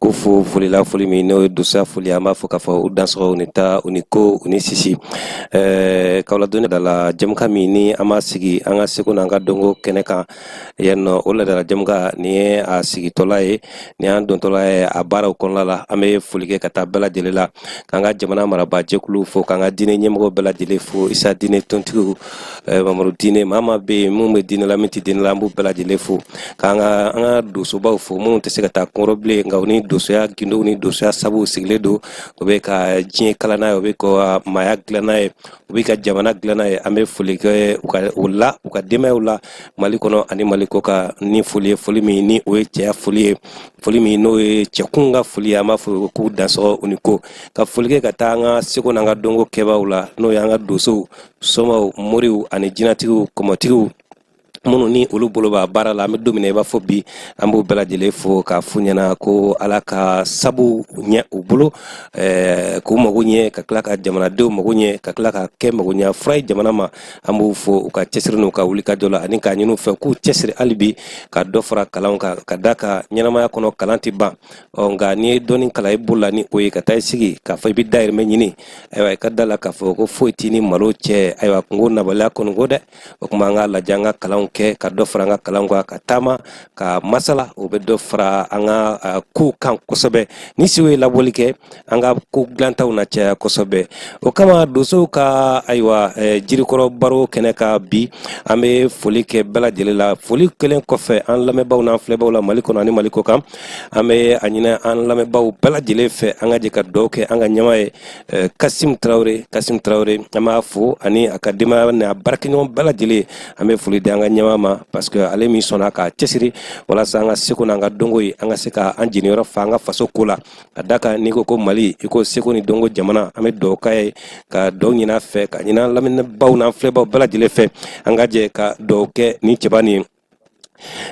k'u fo foli la foli min n'o ye donsoya foli an b'a fɔ k'a fɔ u dansɔgɔ u ni ta u ni ko u ni sisi ɛɛ k'aw ladɔnniya laadala jɛmukan min ni an b'a sigi an ka seko n'an ka dɔnko kɛnɛ kan yan nɔ o laadala jɛmukan nin ye a sigitɔla ye ni an dontɔla ye a baaraw kɔnɔna la an bɛ foli kɛ ka taa bɛɛ lajɛlen la k'an ka jamana marabaa jɛkuluw fo k'an ka diinɛ ɲɛmɔgɔ bɛɛ lajɛlen fo isa diinɛ tontigiw eh, mamadu diinɛ maa maa bɛ yen minnu bɛ diinɛ la min tɛ diinɛ la an b'u bɛɛ lajɛlen fo k'an ka an ka donsobaw fo minnu tɛ se ka taa kɔrɔ bilen nka u ni donsoya gindow ni donsoya sabuw sigilen don u bɛ ka diɲɛ kala n'a ye u bɛ ka maaya dilan n'a ye u bɛ ka jamana dilan n'a ye an bɛ foli kɛ u ka u la u ka denbayaw la mali kɔnɔ ani mali kɔ kan ni foli ye foli min ni o ye cɛya foli ye foli min n'o ye cɛkun ka foli an b'a fɔ k'u dansɔgɔ u ni ko ka foli kɛ ka taa an ka seko n'an ka dɔnko kɛbaaw la n'o y'an ka dosow somaw moriw ani jinatigiw kɔmɔtigiw minnu ni olu bolo b'a baara la an bɛ don min na i b'a fɔ bi an b'u bɛɛ lajɛlen fo k'a f'u ɲɛna ko ala ka sabu ɲɛ u bolo k'u mago ɲɛ ka tila ka jamanadenw mago ɲɛ ka tila ka kɛ mago ɲɛ fura ye jamana ma an b'u fo u ka cɛsiri n'u ka wulikajɔ la ani k'a ɲini u fɛ k'u cɛsiri hali bi ka dɔ fara kalan kan ka da kan ɲɛnamaya kɔnɔ kalan tɛ ban ɔ nka n'i ye dɔɔni kalan i bolo la ni o ye ka taa i sigi k'a fɔ i bɛ dayirimɛ ɲini ayiwa i ka da la k'a fɔ ko foyi t'i ni malo cɛ ayiwa kunko nabaliya kɔni kɔ dɛ o tuma an k'a lajɛ an ka kalanw kɛ ka dɔ fara an ka kalanw kan ka taama ka masala o bɛ dɔ fara an ka uh, kow kan kosɛbɛ ni siw ye laboli kɛ an ka ko dilantaw na caya kosɛbɛ o kama donsow ka ayiwa uh, jirikɔrɔ baro kɛnɛ kan bi an bɛ foli kɛ bɛɛ lajɛlen la foli kelen kɔfɛ an lamɛnbaaw n'an filɛbaaw la mali kɔnɔ ani mali kɔ kan an bɛ a ɲini an lamɛnbaaw bɛɛ lajɛlen fɛ an ka jɛ ka dugawu kɛ an ka ɲɛmaa ye eh, kasim tarawele kasim tarawele an b'a fo ani a ka denbaya n'a baarakɛɲɔgɔn bɛɛ lajɛlen an bɛ foli di an ka ɲɛmaa ma parce que ale min sɔnna k'a cɛsiri walasa an ka seko n'an ka dɔnko ye an ka se ka an jeniyɔrɔ fa an ka faso ko la ka da kan n'i ko ko mali i ko seko ni dɔnko jamana an bɛ dugawu k'a ye ka dugawu ɲin'a fɛ k'a ɲini an lamɛnbaaw n'an filɛbaaw bɛɛ lajɛlen fɛ an ka jɛ ka dugawu kɛ ni cɛba nin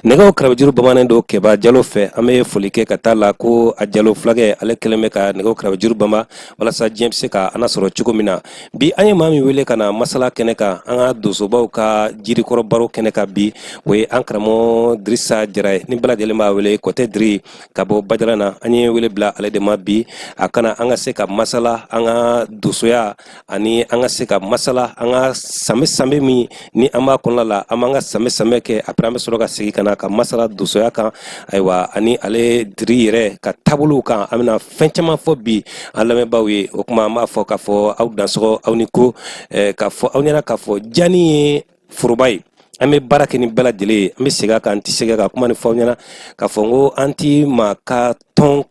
nɛgɛw karabejuru bamanen don kɛba jalo fɛ an bɛ foli kɛ ka taa la ko a jalo fulakɛ ale kelen bɛ ka nɛgɛw karabejuru bama walasa diɲɛ bɛ se ka an sɔrɔ cogo min na bi an ye maa min wele ka na masala kɛnɛ kan an ka donsobaw ka jirikɔrɔ baro kɛnɛ kan bi o ye an karamɔgɔ dirisa jara ye ni bɛɛ lajɛlen b'a wele kɔtɛ diri ka bɔ bajala na an ye wele bila ale de ma bi a ka na an ka se ka masala an ka donsoya ani an ka se ka masala an ka sanbɛɛ sanbɛɛ min ni an b'a kɔnɔna la an b'an ka sanbɛɛ sanbɛɛ kɛ après an bɛ sɔrɔ ka segin ka na ka masala donsoya kan ayiwa ani ale diri yɛrɛ ka taabolow kan an bɛna fɛn caman fɔ bi an lamɛnbaaw ye o tuma an b'a fɔ k'a fɔ aw dansɔgɔ aw ni ko eh, k'a fɔ aw ɲɛna k'a fɔ jani ye foroba ye an bɛ baara kɛ ni bɛɛ lajɛlen ye an bɛ segin a kan an tɛ segin ka kuma ni fɔ aw ɲɛna k'a fɔ n ko an ti maa ka tɔn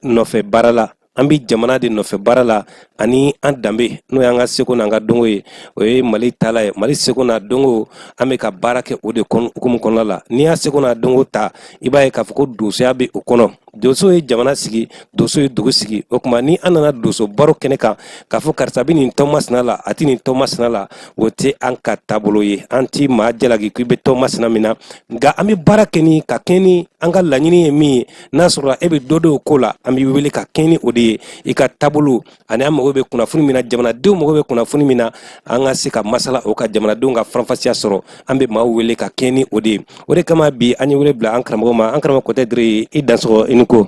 nɔfɛ baara la an bɛ jamana de nɔfɛ baara la ani an danbe n'o y'an ka seko n'an ka dɔnko ye o ye mali taala ye mali seko n'a dɔnko an bɛ ka baara kɛ o de hukumu kɔnɔna la n'i y'a seko n'a dɔnko ta i b'a ye k'a fɔ ko donsoya bɛ o kɔnɔ donso ye jamana sigi donso ye dugu sigi o tuma ni an nana donso baro kɛnɛ kan k'a fɔ karisa bɛ nin tɔn masina la a tɛ nin tɔn masina la o tɛ an ka taabolo ye an ti maa jalaki k'i bɛ tɔn masina min na nka an bɛ baara kɛ ni ka kɛɲɛ ni an ka laɲini ye min ye n'a sɔrɔla e bɛ dɔ dɔn o ko la an b'i wele ka kɛɲɛ ni o de ye i ka taabolo ani an mago bɛ kunnafoni min na jamanadenw mago bɛ kunnafoni min na an ka se ka masala o kan jamanadenw ka faranfasiya sɔrɔ an bɛ maaw wele ka kɛɲɛ ni o de ye o de kama bi an ye wele bila an karamɔgɔ ma an karamɔgɔ kɔtɛ diri i dansɔgɔ i ni ko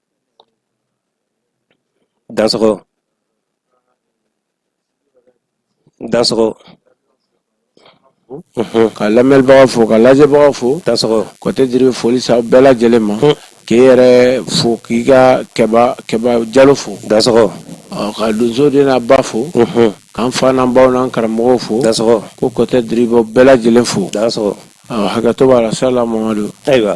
Dansɔgɔ dansɔgɔ unhun ka lamɛnbagaw fo ka lajɛbagaw fo dansɔgɔ Kɔtɛ Diri bɛ foli se aw bɛɛ lajɛlen ma un k'i yɛrɛ fo k'i ka Kɛba Kɛba Jalo fo dansɔgɔ ɔ ka donso den n'a ba fo unhun k'an fa n'an baw n'an karamɔgɔw fo dansɔgɔ ko Kɔtɛ Diri b'aw bɛɛ lajɛlen fo dansɔgɔ ɔ hakɛto b'a la salamwadu ayiwa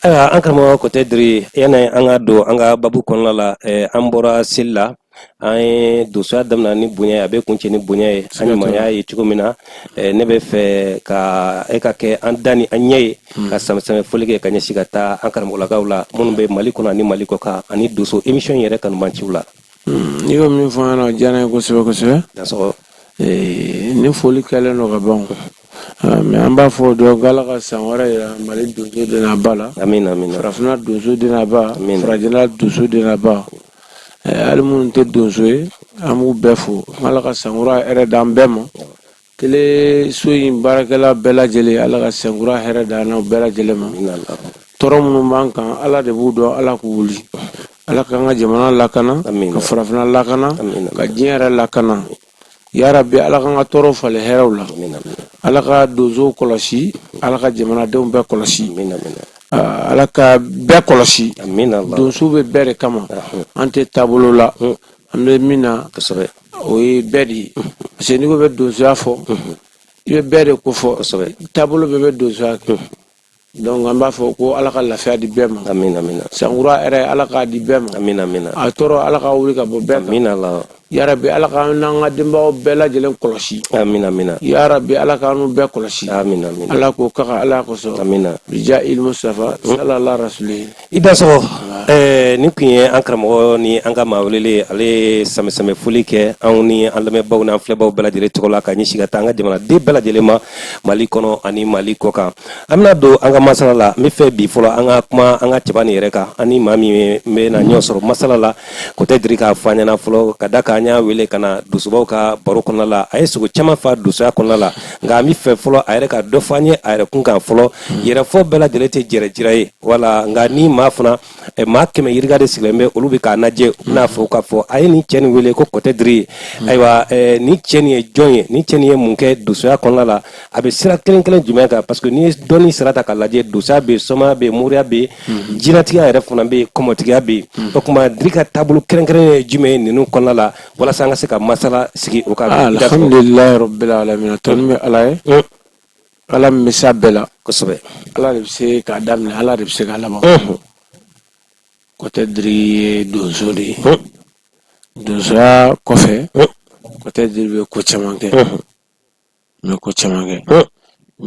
ayiwa an karamɔgɔ kɔtɛ diri yanni an ka don an ka babu kɔnɔna la eh, an bɔra seli la an ye donsoya daminɛ ni bonya a bɛ kuncɛ ni bonya ye an ɲumanya ye cogo min na eh, ne bɛ fɛ ka e ka kɛ an da ni an ɲɛ ye hmm. ka sanbɛɛ sanbɛɛ foli kɛ ka ɲɛsin ka taa an karamɔgɔlakaw la minnu bɛ mali kɔnɔ ani mali kɔkan ani donso emisiyɔn yɛrɛ kanubanciw la hmm, n'i y'o min fɔ an ɲɛna o diyara n ye kosɛbɛ kosɛbɛ eh, ni foli kɛlen don ka ban Ah, mais an b'a fɔ dɔrɔn ko ala ka san wɛrɛ yira mali donso den n'a ba la farafinna donso den n'a ba farajɛla donso den n'a ba eh, hali minnu tɛ donso ye an b'u bɛɛ fo ala ka sankura hɛrɛ d'an bɛɛ ma tele so in baarakɛla bɛɛ lajɛlen ala ka sankura hɛrɛ d'an n'aw bɛɛ lajɛlen ma tɔɔrɔ minnu b'an kan ala de b'u dɔn ala k'u wuli ala k'an ka jamana lakana ka farafinna lakana ka diɲɛ yɛrɛ lakana Ya rabbi Ala k'an ka tɔɔrɔw falen hɛrɛw la. Amina amina. Ala ka donsow kɔlɔsi, Ala ka jamanadenw bɛɛ kɔlɔsi. Amina amina. Ah, Ala ka bɛɛ kɔlɔsi. Amina Allah. Donso bɛ bɛɛ de kama. Ahun. An tɛ taabolo la. Hun. An bɛ min na, Kosɛbɛ. o ye bɛɛ de ye. Parce que n'i ko bɛ donsoya fɔ, i bɛ bɛɛ de ko fɔ. Kosɛbɛ. Taabolo bɛɛ bɛ donsoya kɛ. Donc an b'a fɔ ko ala ka lafiya di bɛɛ ma amina amina sankura yɛrɛ ala k'a di bɛɛ ma amina amina a tɔɔrɔ ala ka wuli ka bɔ bɛɛ kan amina la yarabi ala ka n'an ka denbaw bɛɛ lajɛlen kɔlɔsi amina amina yarabi ala ka n'u bɛɛ kɔlɔsi amina amina ala ko kaka ala kosɔn amina bija ilmu safa salala rasuli I dansɔgɔ nin kun ye an karamɔgɔ ni an ka maa welelen ale ye sanbɛsanbɛ foli kɛ anw ni an lamɛnbaw n'an filɛbaw bɛɛ lajɛlen tɔgɔ la ka ɲɛsin ka taa an ka jamanaden bɛɛ lajɛlen ma mali kɔnɔ ani mali kɔ kan an bɛna don an ka masala la n bɛ fɛ bi fɔlɔ an ka kuma an ka cɛba nin yɛrɛ kan an ni maa min bɛna ɲɔgɔn sɔrɔ masala la kɔtɛ diri k'a fɔ an ɲɛna fɔlɔ ka da kan an y'a wele ka na donsobaw ka baro kɔnɔna la a ye sogo caman fa donsoya kɔnɔna la nka an bɛ fɛ fɔlɔ a yɛrɛ ka dɔ fɔ an ye a yɛrɛ kun kan fɔlɔ yɛrɛfɔ bɛɛ lajɛlen tɛ yɛrɛjira ye wala nka ni maa fana eh, maa kɛmɛ yirika de sigilen bɛ olu bɛ k'a lajɛ u bɛna fɔ k'a fɔ a ye nin cɛ nin wele ko kɔtɛ diri hmm. ayiwa eh, nin cɛ nin ye jɔn ye nin cɛ nin ye mun kɛ donsoya kɔnɔna la a bɛ sira kelen kelen jumɛn kan parce que n'i ye dɔnni sira ta k'a lajɛ donsoya bɛ yen somaya bɛ yen moriya bɛ yen hmm. jinɛtigiya yɛrɛ fana bɛ yen kɔmɔtigiya bɛ yen hmm. o tuma diri ka taabolo kɛrɛnkɛrɛnnen ye jumɛn ye ninnu kɔnɔna la walasa an ka se ka masala sigi o kan. alhamdulilayi rabbil alamin tanu bɛ ala ye. Ala min bɛ se a bɛɛ la kosɛbɛ Ala de bɛ se k'a daminɛ Ala de bɛ se k'a laban kɔtɛ diri ye donso de ye donsoya kɔfɛ kɔtɛ diri bɛ ko caman kɛ n bɛ ko caman kɛ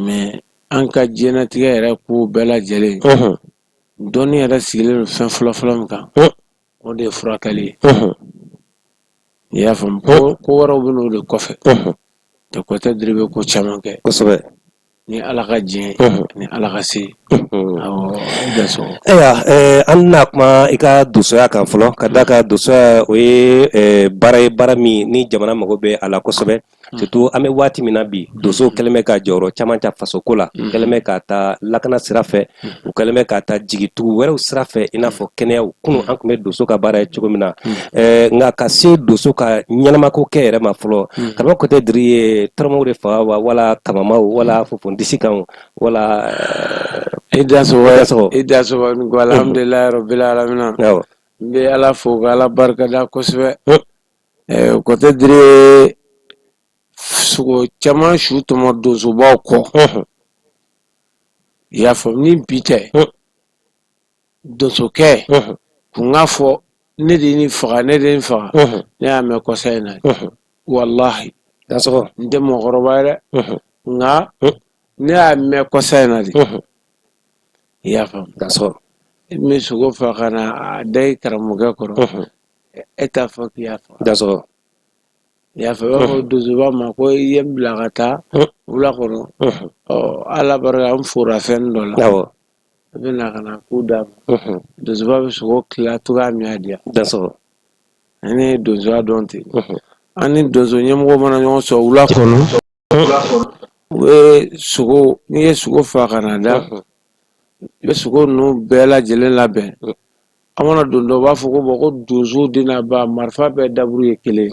mais an ka diɲɛlatigɛ yɛrɛ ko bɛɛ lajɛlen dɔnni yɛrɛ sigilen don fɛn fɔlɔ fɔlɔ min kan o de ye furakɛli ye i y'a faamu ko wɛrɛw bɛ n'o de kɔfɛ tɛ kɔtɛ diri bɛ ko caman kɛ kosɛbɛ ni ala ka diɲɛ ni ala ka se ayiwa an na kuma i ka donsoya kan fɔlɔ ka da kan donsoya o ye baara ye baara min ni jamana mago bɛ a la kosɛbɛ surtout an bɛ waati min na bi donsow kɛlen bɛ ka jɔyɔrɔ caman ta fasoko la u kɛlen bɛ ka taa lakana sira fɛ u kɛlen bɛ ka taa jigitugu wɛrɛw sira fɛ i n'a fɔ kɛnɛyaw kunun an tun bɛ donso ka baara ye cogo min na eh, nka ka se donso ka ɲɛnamako kɛ yɛrɛ ma fɔlɔ karamɔgɔ kɔtɛ diri ye tɔrɔnmaw de faga wa wala kamanmaw wala fofondisikanw wala eh, i dansɔgɔ i dansɔgɔ alhamdulilayi rabbil alamina n bɛ ala fo ka ala barikada kosɛbɛ kɔtɛ diri sogo caman su tɔmɔ donsobaw kɔ i y'a faamu ni bi tɛ donsokɛ kun k'a fɔ ne de nin faga ne de nin faga ne y'a mɛn kɔsa in na walahi n tɛ mɔgɔkɔrɔba ye dɛ nka ne y'a mɛn kɔsa in na de i y'a faamu dansɔgɔ i bɛ sogo faga ka na a da i karamɔgɔkɛ kɔrɔ e t'a fɔ k'i y'a faga dansɔgɔ i y'a fɔ i b'a fɔ donsoba ma ko i ye n bila ka taa wula kɔnɔ ɔ ala barika n fora fɛn dɔ la awɔ i bɛ na ka na k'u d'a ma donsoba bɛ sogo tila cogoya min y'a diya dansɔgɔ an ye donsoya dɔn ten an ni donso ɲɛmɔgɔ mana ɲɔgɔn sɔrɔ wula kɔnɔ u bɛ sogo n'i ye sogo fa ka na da i bɛ sogo ninnu bɛɛ lajɛlen labɛn an mana don dɔ u b'a fɔ ko bon ko donso den n'a ba marifa bɛɛ daburu ye kelen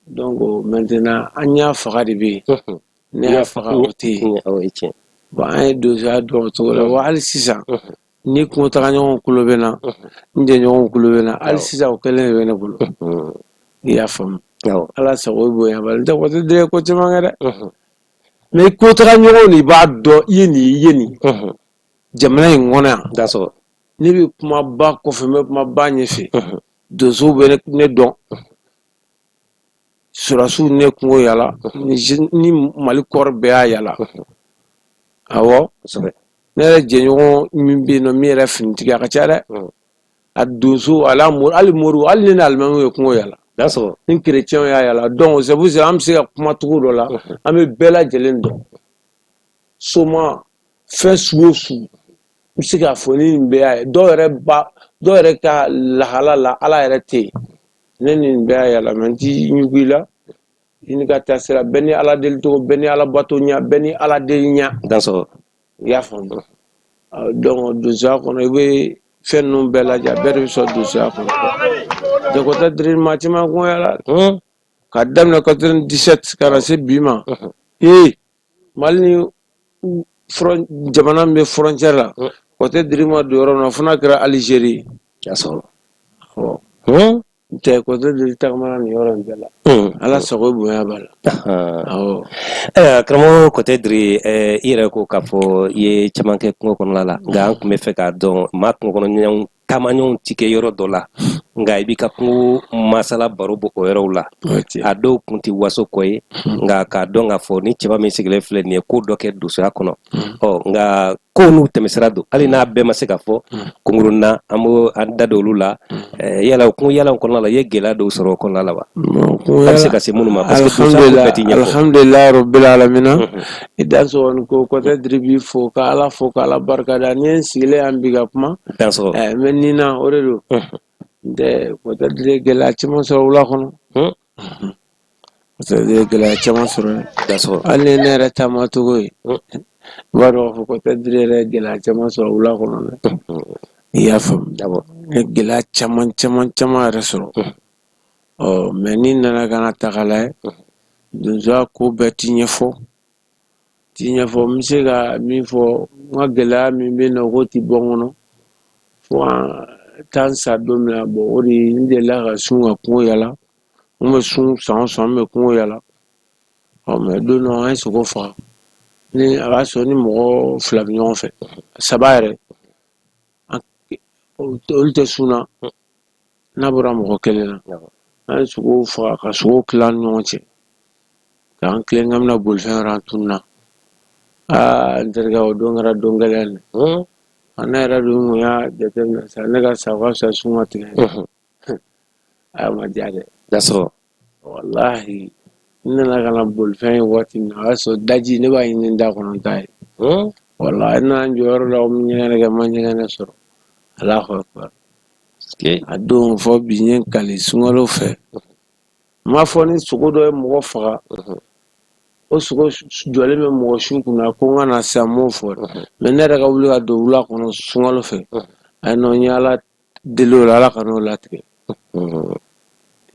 donc maintenant an y'a faga de bɛ yen ne y'a faga o tɛ yen bon an ye donsoya dɔn o cogo la wa hali sisan ni kungo taga ɲɔgɔn kulo bɛ n na n jɛɲɔgɔnw kulo bɛ n na hali sisan o kelen de bɛ ne bolo i y'a faamu ala sago bonya b'a la n tɛ Kɔtɛ Diri ye ko caman kɛ dɛ mais kungo taga ɲɔgɔn de b'a dɔn i ye nin i ye nin jamana in kɔnɔ yan dansɔgɔ ne bɛ kuma ba kɔfɛ n bɛ kuma ba ɲɛfɛ donsow bɛ ne dɔn Sɔrasiw ne kungo yala ni mali corps bɛɛ y'a yala awɔ ne yɛrɛ jɛɲɔgɔn min bɛ yen min yɛrɛ finitigi a ka ca dɛ a donso hali moriw hali ne ni alimamiw ye kungo yala dansɔgɔ ni kerecɛnw y'a yala donc c'est pour ça an bɛ se ka kumacogo dɔ la an bɛ bɛɛ lajɛlen dɔn soma fɛn sugu o sugu n bɛ se k'a fɔ ni nin bɛɛ y'a ye dɔw dɔw yɛrɛ ka lahala la ala yɛrɛ tɛ yen ne ni nin bɛɛ y'a yala mais n t'i ɲugu i la i n'i ka taasira bɛɛ n'i ala deli cogo bɛɛ n'i ala bato ɲa bɛɛ n'i ala deli ɲa dansɔgɔ i y'a faamu donc donsoya kɔnɔ i bɛ fɛn ninnu bɛɛ lajɛ bɛɛ de bɛ sɔrɔ donsoya kɔnɔ donc Kɔtɛ Diri ni maa caman kungo yala ka daminɛ 97 ka na se bi ma ee Mali ni jamana min bɛ frontière la Kɔtɛ Diri ma don yɔrɔ min na fo n'a kɛra alizeri dansɔgɔ n tɛ Kɔtɛ Diri tagamana nin yɔrɔ in bɛɛ la ala sago bonya b'a la ayiwa karamɔgɔ Kɔtɛ Diri i yɛrɛ ko k'a fɔ i ye caman kɛ kungo kɔnɔna la nka an tun bɛ fɛ k'a dɔn maa kungo kɔnɔ ɲɔgɔn taamaɲɔgɔnw ti kɛ yɔrɔ dɔ la nka i b'i ka kungo masala baro bɔ o yɔrɔw la a dɔw kun tɛ waso ko ye nka k'a dɔn k'a fɔ ni cɛba min sigilen filɛ nin ye ko dɔ kɛ dosoya kɔnɔ ɔ nka kow n'u tɛmɛsira don hali n'a bɛɛ ma se ka fɔ kunkurunna an b'o an da don olu la yala o kungo yaalaw kɔnɔna la i ye gɛlɛya dɔw sɔrɔ o kɔnɔna la wa a bɛ se ka se minnu ma parce que dosoya ko bɛɛ tɛ ɲɛfɔ alhamdulilayi rabbil alamina I dansɔgɔ ko Kɔtɛ Diri b'i fo ka ala fo ka ala barika da n'i ye n sigilen yan bi ka kuma mɛ nin na o de don n tɛ Kɔtɛ Diri ye gɛlɛya caman sɔrɔ wula kɔnɔ gɛlɛya caman sɔrɔ hali ni ne yɛrɛ taamacogo ye i b'a dɔn k'a fɔ Kɔtɛ Diri yɛrɛ ye gɛlɛya caman sɔrɔ wula kɔnɔ dɛ i y'a faamu n ye gɛlɛya caman caman caman yɛrɛ sɔrɔ ɔ mɛ ni nana ka n'a ta k'a lajɛ donsoya ko bɛɛ ti ɲɛfɔ ti ɲɛfɔ n bɛ se ka min fɔ n ka gɛlɛya min bɛ n'a ko ti bɔ n kɔnɔ fo an taa n sa don min na bɔn o de ye n delila ka sun ka kungo yala n bɛ sun san o san n bɛ kungo yala ɔ mɛ don dɔ an ye sogo faga ni a b'a sɔrɔ ni mɔgɔ fila bɛ ɲɔgɔn fɛ saba yɛrɛ olu tɛ sun na n'a bɔra mɔgɔ kelen na an ye sogo faga ka sogo tila an ni ɲɔgɔn cɛ k'an tilen k'an bɛ na bolifɛn yɔrɔ an tununa aa n terikɛ o don kɛra don gɛlɛn de a ne yɛrɛ dun kun y'a jateminɛ sa ne ka sa ka fisa sun ka tigɛ a ma diya dɛ walahi n nana ka na bolifɛn ye waati min na o y'a sɔrɔ daji ne b'a ɲini da kɔnɔ t'a ye hmm? walahi n nana n jɔ yɔrɔ la n ɲɛgɛnɛ kɛ n ma ɲɛgɛnɛ sɔrɔ alahu akibar a don fo bi n ye n kali sunkalo fɛ n m'a fɔ ni sogo dɔ ye mɔgɔ faga mhm. o sogo jɔlen bɛ mɔgɔ su kunna ko n ka na sisan n m'o fɔ dɛ mhm. mɛ ne yɛrɛ ka wuli ka don wula kɔnɔ sunkalo fɛ mhm. ayi non n ye ala deli o la ala kan'o latigɛ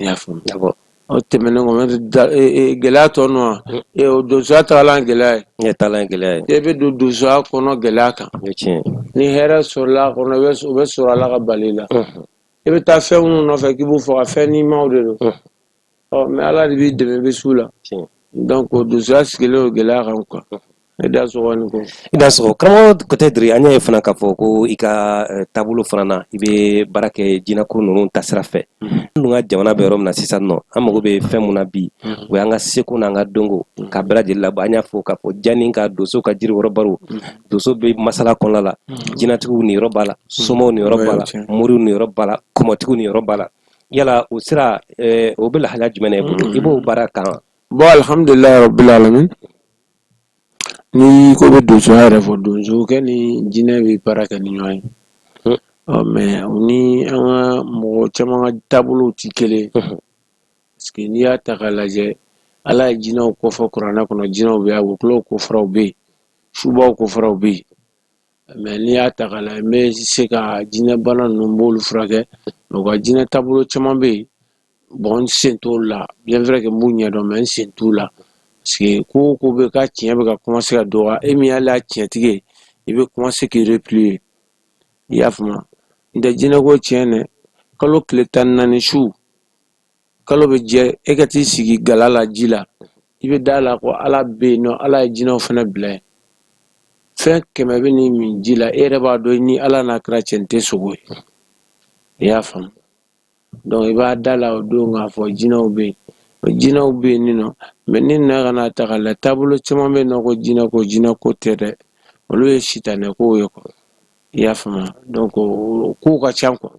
i y'a faamu d'accord o tɛmɛnen kɔ maitre da e e gɛlɛya t'o nɔ wa Mm. e o donsoya tagalan ye gɛlɛya ye ne taalan ye gɛlɛya ye e bɛ don donsoya kɔnɔ gɛlɛya kan o ye tiɲɛ ye ni hɛrɛ sɔrɔla a kɔnɔ i bɛ o bɛ sɔrɔ ala ka bali la Unhun, i bɛ taa fɛn minnu nɔfɛ k'i b'u faga fɛn nimaw de don unhun, ɔ mɛ ala de b'i dɛmɛ i bɛ s'u la donc o donsoya sigilen o gɛlɛya kan quoi i dansɔgɔ i ni ko i dansɔgɔ karamɔgɔ peut-être an y'a ye fana k'a fɔ ko i ka eh, taabolo fana na i bɛ baara kɛ jinɛko ninnu tasira fɛ an dun ka jamana bɛ yɔrɔ min na sisan nɔ an mago bɛ fɛn mun na bi mm-hmm. o y'an ka seko n'an ka dɔnko mm-hmm. k'a bɛɛ lajɛlen labɔ an y'a fɔ k'a fɔ janni ka donso ka jiri yɔrɔ baro mm-hmm. donso bɛ masala kɔnɔna la jinɛtigiw niyɔrɔ b'a la somaw niyɔrɔ b'a la moriw niyɔrɔ b'a la kɔmɔtigiw niyɔrɔ b'a la yala o sira eh, o bɛ lahalaya jumɛn na i bolo i b'o baara kan wa? bon alhamdulilayi rabbil alamin n'i ko i bɛ donsoya yɛrɛ fɔ donsokɛ ni jinɛ bɛ baara kɛ ni ɲɔgɔn ye Mhm. ɔ mɛ u ni an ka mɔgɔ caman ka taabolow tɛ kelen ye Mhm. parce que n'i y'a ta k'a lajɛ ala ye jinɛw kofɔ kuranɛ kɔnɔ jinɛw bɛ yen a wokulaw kofɔra u bɛ yen subaw kofɔra u bɛ yen mɛ n'i y'a ta k'a lajɛ n bɛ se ka jinɛ bana ninnu n b'olu furakɛ mɛ u ka jinɛ taabolo caman bɛ yen bɔn n sen t'olu la bien vrai que n b'u ɲɛdɔn mɛ n sen t'u la parce que ko o ko bɛ ka tiɲɛ bɛ ka commencer ka dɔgɔya e min y'ale a tiɲɛtigi ye i bɛ commencer k'i replier i y'a faamu n tɛ jinɛko tiɲɛ dɛ kalo tile tan ni naani su kalo bɛ jɛ e ka t'i sigi gala la ji la i bɛ da la ko ala bɛ yen nɔ ala ye jinɛw fana bila fɛn kɛmɛ bɛ n'i min ji la e yɛrɛ b'a dɔn ni ala n'a kɛra cɛ tɛ sogo ye i y'a faamu donc i b'a da la o don k'a fɔ jinɛw bɛ yen jinɛw bɛ yen nin nɔ mɛ n'i nana ka n'a ta k'a lajɛ taabolo caman bɛ yen nɔ ko jinɛ ko jinɛ ko tɛ dɛ olu ye sitanɛkow ye quoi i y'a faamuya donc kow ka ca quoi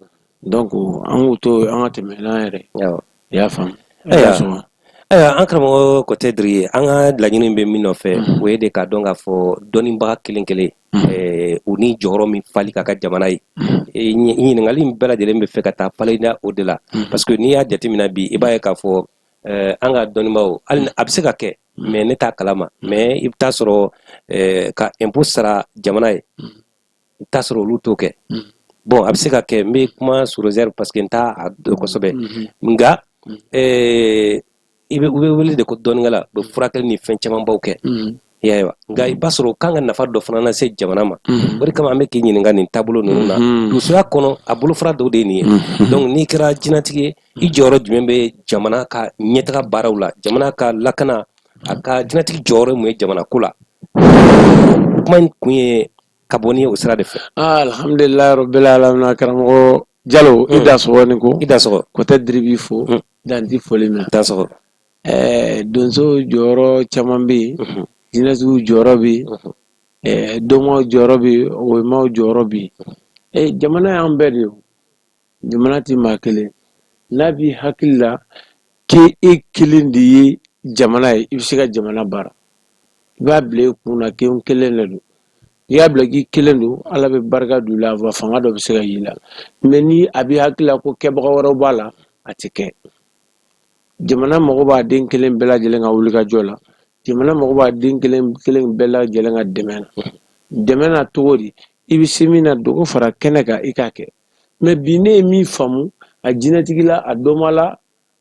Donc an k'u to an ka tɛmɛ n'an yɛrɛ i y'a faamu ayiwa an karamɔgɔ kotɛ diri ye an ka laɲini bɛ min nɔfɛ mhm. o ye de k'a dɔn k'a fɔ dɔnnibaga kelen kelen mhm. eh, u ni jɔyɔrɔ min fali ka kan jamana ye mhm. eh, ɲininkakali in bɛɛ lajɛlen bɛ fɛ ka taa fada o de la parce que n'i y'a jateminɛ bi i b'a ye k'a fɔ eh, an ka dɔnnibaaw hali a bɛ se ka kɛ mɛ ne t'a kalama mɛ i bɛ taa sɔrɔ ka impôt sara jamana ye i t'a sɔrɔ olu t'o kɛ mm. bon a bɛ se ka kɛ n bɛ kuma sous réserve parce que n t'a dɔn kosɛbɛ mm-hmm. nka mm. eh, i bɛ u bɛ wele de ko dɔnnikɛla u bɛ mm. furakɛli ni fɛn camanbaw kɛ i y'a ye wa nka i b'a sɔrɔ u kan ka nafa dɔ fana lase jamana ma o de kama an bɛ k'i ɲininka nin taabolo ninnu na donsoya kɔnɔ a bolofara dɔw de ye nin ye donc n'i kɛra jinatigi ye i jɔyɔrɔ jumɛn bɛ jamana ka ɲɛtaga baaraw la jamana ka lakana a ka jinɛtigi jɔyɔrɔ mun ye jamana ko la kuma in kun ye ka bɔ ni o sira de fɛ ah, alhamdulilayi rabbil alamin karamɔgɔ jalo i mm. dansɔgɔ i ni ko i dansɔgɔ kotɛ diri b'i fo mm. danti foli minɛ dansɔgɔ eh, donso jɔyɔrɔ caman bɛ yen mm-hmm. jinɛtigiw jɔyɔrɔ bɛ yen mm-hmm. eh, dɔmaw jɔyɔrɔ bɛ yen somaw jɔyɔrɔ bɛ yen eh, jamana y'an bɛɛ de ye jamana tɛ maa kelen n'a b'i hakili la k' e kelen de ye jamana ye i bɛ se ka jamana baara i b'a bila i kun na k'e kelen de don i y'a bila k'i kelen don ala bɛ barika don i la wa fanga dɔ bɛ se ka y'i la mɛ ni a b'i hakili la ko kɛbaga wɛrɛ b'a la a tɛ kɛ jamana mago b'a den kelen bɛɛ lajɛlen ka wulikajɔ la jamana mago b'a den kelen kelen bɛɛ lajɛlen ka dɛmɛ na dɛmɛ na cogo di i bɛ se min na dogo fara kɛnɛ kan i k'a kɛ mɛ bi ne ye min faamu a jinɛtigi la a dɔma la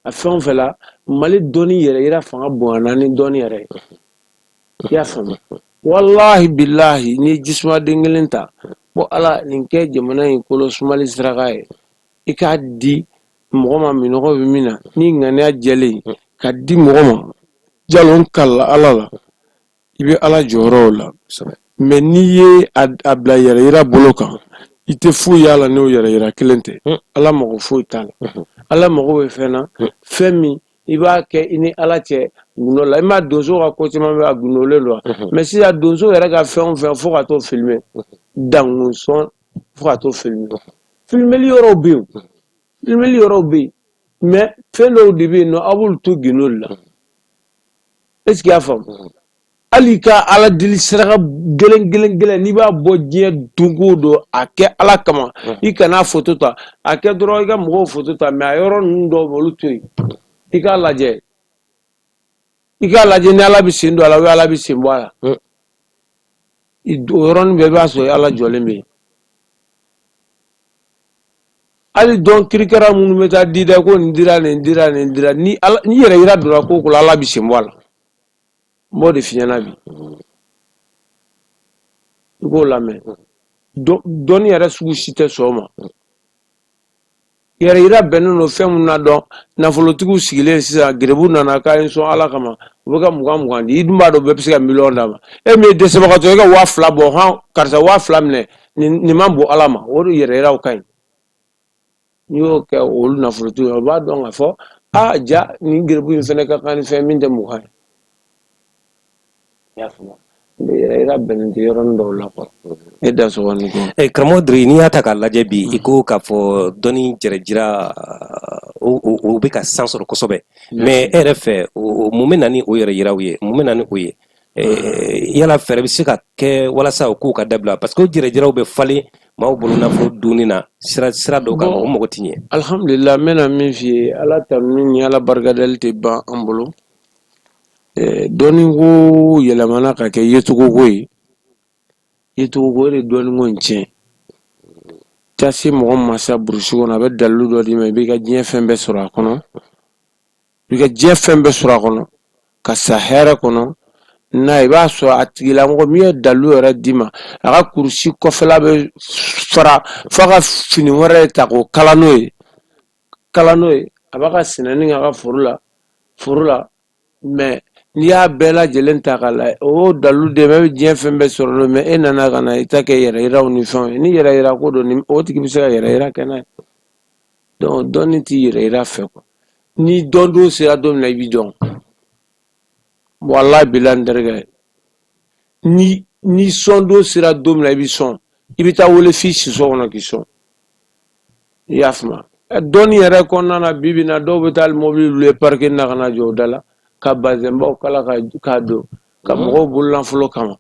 a fɛn o fɛn la mali dɔnni yɛrɛyira fanga bonyana ni dɔnni yɛrɛ ye i y'a faamu walahi bilahi n'i ye jisuma den kelen ta ko ala nin kɛ jamana in kolo sumali saraka ye i k'a di mɔgɔ ma minɔgɔ bɛ min na ni ŋaniya jɛlen ka di mɔgɔ ma jalo n kalen ala la i bɛ ala jɔyɔrɔw la mɛ n'i ye a bila yɛrɛ yira bolo kan i tɛ foyi y'a la n'o yɛrɛ yira kelen tɛ ala mago foyi t'a la ala mago bɛ fɛn na fɛn min i b'a kɛ i ni ala cɛ gundo la i m'a donso ka ko caman bɛ a gundolen don mɛ sisan donso yɛrɛ ka fɛn o fɛn fo ka t'o filime dankun sɔn fo ka t'o filime filimeli yɔrɔw bɛ yen filimeli yɔrɔw bɛ yen mɛ fɛn dɔw de bɛ yen nɔn a b'olu to gundo la est ce que y'a faamu mm. hali i ka ala deli saraka gɛlɛn gɛlɛn gɛlɛn n'i b'a bɔ diɲɛ don o don a kɛ ala kama mm. i kana foto ta a kɛ dɔrɔn i ka mɔgɔw foto ta mɛ a yɔrɔ ninnu dɔw olu to yen i k'a lajɛ i k'a lajɛ ni ala bɛ sen don a la ou ala bɛ sen bɔ a la mm. o yɔrɔnin bɛɛ i b'a sɔrɔ ala jɔlen bɛ hali don kirikara minnu bɛ taa di dɛ ko nin dira nin dira nin dira ni yɛrɛ yira donna ko o ko la ala bɛ sen bɔ a la n b'o de f'i ɲɛna bi i k'o lamɛn dɔnni yɛrɛ sugu si tɛ sɔn o ma yɛrɛ yira bɛnnen don fɛn minnu na donc nafolotigiw sigilen sisan gerebu nana k'a ye sɔn ala kama u bɛ ka mugan mugan di i dun b'a dɔn bɛɛ bɛ se ka miliyɔn d'a ma e min ye dɛsɛbagatɔ ye e ka waa fila bɔ hɔn karisa waa fila minɛ nin man bon ala ma o de yɛrɛ yiraw ka ɲi n'i y'o kɛ olu nafolotigiw ye o b'a dɔn k'a fɔ aa ja nin gerebu in fana ka kan ni fɛn min tɛ mugan ye I y'a faamu i ka bɛnnen tɛ yɔrɔnin dɔw la quoi ne da sɔgɔlen tɛ Eh, karamɔgɔ Diri n'i y'a ta k'a lajɛ bi i ko k'a fɔ dɔnni jɛrɛjira o o o bɛ ka san sɔrɔ kosɛbɛ mais e yɛrɛ fɛ o o mun bɛ na ni o yɛrɛ yiraw ye mun bɛ na ni o ye Eh, yala fɛɛrɛ bɛ se ka kɛ walasa o kow ka dabila parce que o jɛrɛjiraw bɛ falen maaw bolo nafolo dunni na sira sira dɔw kan Bon. o mago tɛ ɲɛ alhamdulila n bɛna min f'i ye ala tanuni ni ala barikadali tɛ ban an bolo dɔnni ko yɛlɛmana ka kɛ yecogoko ye yecogoko de dɔnniko in tiɲɛ taa se mɔgɔ ma sa burusi kɔnɔ a bɛ dalu dɔ d'i ma i b'i ka diɲɛ fɛn bɛɛ sɔrɔ a kɔnɔ i ka diɲɛ fɛn bɛɛ sɔrɔ a kɔnɔ ka sa hɛrɛ kɔnɔ n i b'a sɔrɔ a tigilamɔgɔ min ye dalu yɛrɛ d'i ma a ka kurusi kɔfɛla bɛ fara fo a ka fini wɛrɛ ta k'o kala n'o ye kalan n'o ye a b'a ka sɛnɛni k'a ka foro la foro la mɛ n'i y'a bɛɛ lajɛlen ta k'a lajɛ o dalu de bɛ diɲɛ fɛn bɛɛ sɔrɔ don mɛ e nana ka na i ta kɛ yɛrɛ yiraw ni fɛnw ye ni yɛrɛ yira ko don o tigi bɛ se ka yɛrɛ yira kɛ n'a ye donc dɔnni t'i yɛrɛ yira fɛ quoi ni dɔn don sera don min na i bɛ dɔn wallahi billahi n terikɛ ni ni sɔn don sera don min na i bɛ sɔn i bɛ taa wele f'i siso kɔnɔ k'i sɔn i y'a faamuya dɔnni yɛrɛ kɔnɔna na bi bi in na dɔw bɛ taa mobili louer parking na ka na jɔ u da la ka bazɛnbaw kala ka k'a don ka mm. mɔgɔw bolola nafolo kama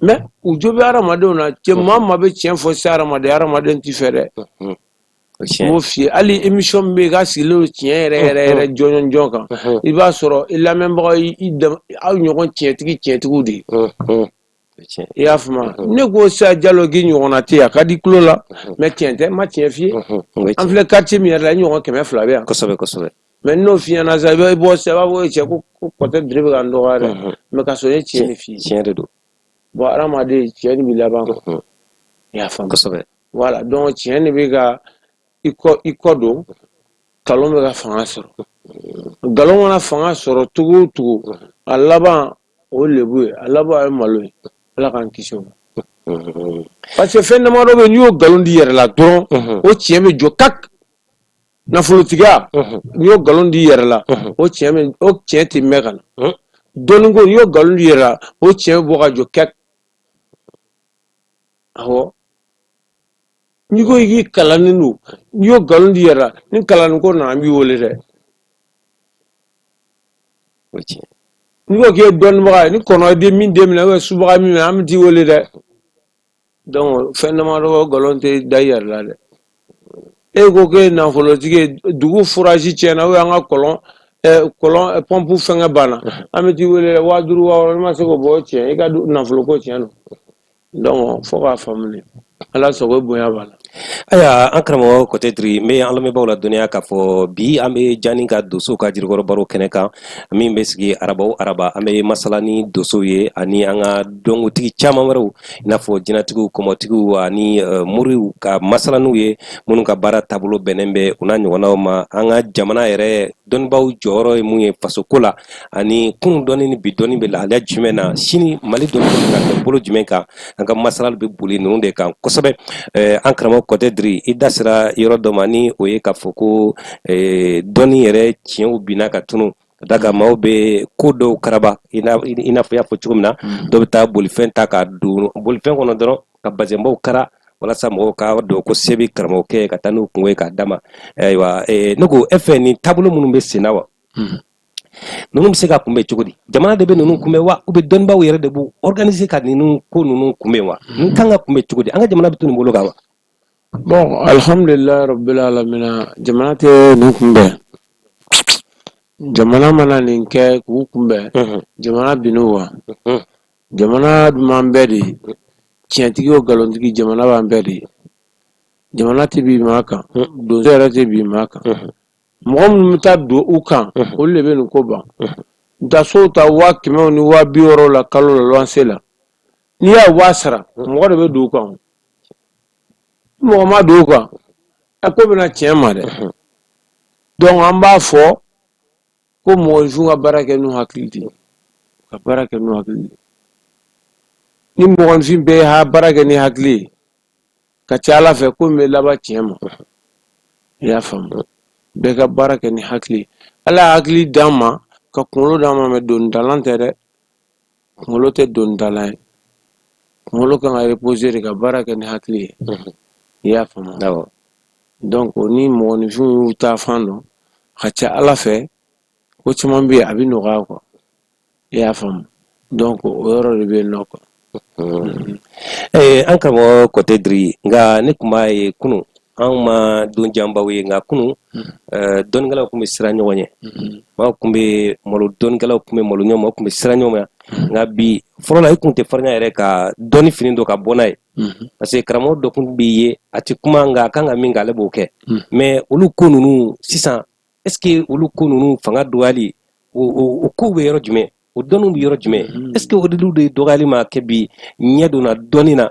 mais u jo bɛ hadamadenw na cɛ mm. maa ma bɛ tiɲɛ fɔ se hadamaden hadamaden t'i fɛ dɛ mm. n b'o f'i ye hali émission min bɛ yen k'a sigilen don tiɲɛ yɛrɛ yɛrɛ yɛrɛ jɔnjɔn jɔn kan i b'a sɔrɔ i lamɛnbagaw i aw ɲɔgɔn tiɲɛtigi tiɲɛtigiw de ye i y'a faamuya mhm. ne ko sa jalo k'i ɲɔgɔnna tɛ a ka di tulo la mhm. mais tiɲɛ tɛ n ma tiɲɛ f'i ye mhm. an filɛ quartier min yɛrɛ la i ɲɔgɔn kɛmɛ fila bɛ yan kosɛbɛ kosɛbɛ mais n'o f'i ɲɛna sa i bɛ bɔ sa i b'a fɔ cɛ ko kɔtɛ diri bɛ ka n dɔgɔya dɛ mais ka sɔrɔ a ye tiɲɛ de f'i ye tiɲɛ de don bon hadamaden tiɲɛ de bɛ laban kɔ i y'a faamu kosɛbɛ voilà donc tiɲɛ de bɛ ka i kɔ i kɔ don nkalon bɛ ka fanga sɔrɔ nkalon mana fanga sɔrɔ cogo o cogo a laban o ye lebu ye a laban a ye malo ye ala k'an kisi o ma parce que fɛn damadɔ bɛ yen n'i y'o nkalon d'i yɛrɛ la dɔrɔn o tiɲɛ bɛ jɔ kak nafolotigiya n'i y'o nkalon d'i yɛrɛ la o tiɲɛ bɛ o tiɲɛ tɛ mɛn ka na dɔnniko n'i y'o nkalon d'i yɛrɛ la o tiɲɛ bɛ bɔ ka jɔ kak awɔ n'i ko k'i kalannen don n'i y'o nkalon d'i yɛrɛ la ni kalanni ko nana an b'i wele dɛ o ye tiɲɛ n'i ko k'i ye dɔnnibaga ye ni kɔnɔ ye min den minɛ ou bien subaga min minɛ an bɛ t'i wele dɛ donc fɛn damadɔ o nkalon tɛ da i yɛrɛ la dɛ e ko k'e ye nafolotigi ye dugu forage tiɲɛna ou an ka kɔlɔn kɔlɔn pɔnpu fɛngɛ banna an bɛ t'i wele dɛ waa duuru waa wɔɔrɔ n'i ma se k'o bɔ o tiɲɛ i ka nafoloko tiɲɛ don Donc fo k'a faamuya ala sago bonya b'a la ayiwa an karamɔgɔ kɔtɛ diri n bɛ an lamɛnbaaw ladɔnniya k'a fɔ bi an bɛ jani ka donsow ka jirikɔrɔ baro kɛnɛ kan min bɛ sigi araba o araba an bɛ masala ni donsow ye ani an ka dɔnkotigi caman wɛrɛw i n'a fɔ jinɛtigiw kɔmɔtigiw ani eh, moriw ka masala n'u ye minnu ka baara taabolo bɛnnen bɛ u n'a ɲɔgɔnnaw ma an ka jamana yɛrɛ dɔnnibaw jɔyɔrɔ ye mun ye fasoko la ani kunun dɔnni ni bi dɔnni bɛ lahalaya jumɛn na sini mali dɔnni ka kɛ bolo jumɛn kan an ka masalali bɛ boli ninnu de kan kosɛbɛ eh, an karamɔgɔ kɔtɛ diri i da sera yɔrɔ dɔ ma ni o ye k'a fɔ ko eh, dɔnni yɛrɛ tiɲɛw binna ka tunu ka da kan maaw bɛ ko dɔw karaba i n'a fɔ i y'a fɔ cogo min na mm. dɔw bɛ taa bolifɛn ta ka don bolifɛn kɔnɔ dɔrɔn ka bazɛnbaw kara walasa mɔgɔw k'a dɔn ko se bɛ karamɔgɔkɛ ye ka taa n'u kungo ye k'a d'a ma ayiwa ne ko e fɛ nin taabolo minnu bɛ senna wa hmm. ninnu bɛ se ka kunbɛn cogo di jamana de bɛ ninnu kunbɛn wa ou bien dɔnnibaw yɛrɛ de b'u organiser ka ninnu ko ninnu kunbɛn wa hmm. ninnu kan ka kunbɛn cogo di an ka jamana bɛ to nin bolo kan wa. bon alihamudulila rabbil alamina jamana tɛ nin kunbɛn jamana mana nin kɛ k'u kunbɛn hmm. jamana bin'u wa. jamana dun b'an bɛɛ de ye tiɲɛtigi o nkalontigi jamana b'an bɛɛ de ye jamana tɛ bin maa kan donso yɛrɛ tɛ bin maa kan mɔgɔ minnu bɛ taa don u kan olu de bɛ nin ko ban taa sow ta waa kɛmɛw ni waa bi wɔɔrɔ la kalo la luwanse la n'i y'a waa sara mɔgɔ de bɛ don u kan mɔgɔ ma don u kan a ko bɛna tiɲɛ ma dɛ donc an b'a fɔ ko mɔgɔninfinw ka baara kɛ n'u hakili de ka baara kɛ n'u hakili de ni mɔgɔninfin bɛɛ ye ha baara kɛ ni hakili ye ka ca ala fɛ ko bɛ laban tiɲɛ ma i y'a faamu bɛɛ ka baara kɛ ni hakili ala hakili d'an ma ka kunkolo d'an ma mais donitalan tɛ dɛ kunkolo tɛ donitalan ye kunkolo kan ka reposer de ka baara kɛ ni hakili ye i y'a faamu awɔ donc ni mɔgɔninfinw y'u ta fan dɔn ka ca ala fɛ ko caman bɛ yen a bɛ nɔgɔya quoi i y'a faamu donc o yɔrɔ de bɛ yen nɔ quoi ee an karamɔgɔ kɔtɛ diri nka ne tun b'a ye kunun anw ma don janbaw ye nka kunun eh, dɔnnikɛlaw tun bɛ siran ɲɔgɔn ɲɛ maaw tun bɛ malo dɔnnikɛlaw tun bɛ malo ɲɔgɔn ma tun bɛ siran ɲɔgɔn ma nka bi fɔlɔ la i tun tɛ farinya yɛrɛ ka dɔnni fini don ka bɔ n'a ye parce que karamɔgɔ dɔ tun bɛ yen a tɛ kuma nka a kan ka min kɛ ale b'o kɛ mais olu ko ninnu sisan est ce que olu ko ninnu fanga dɔgɔyali o kow bɛ yɔrɔ jumɛn o dɔnniw bɛ yɔrɔ jumɛn est ce que o diliw de dɔgɔyali ma kɛ bi ɲɛ donna dɔnni na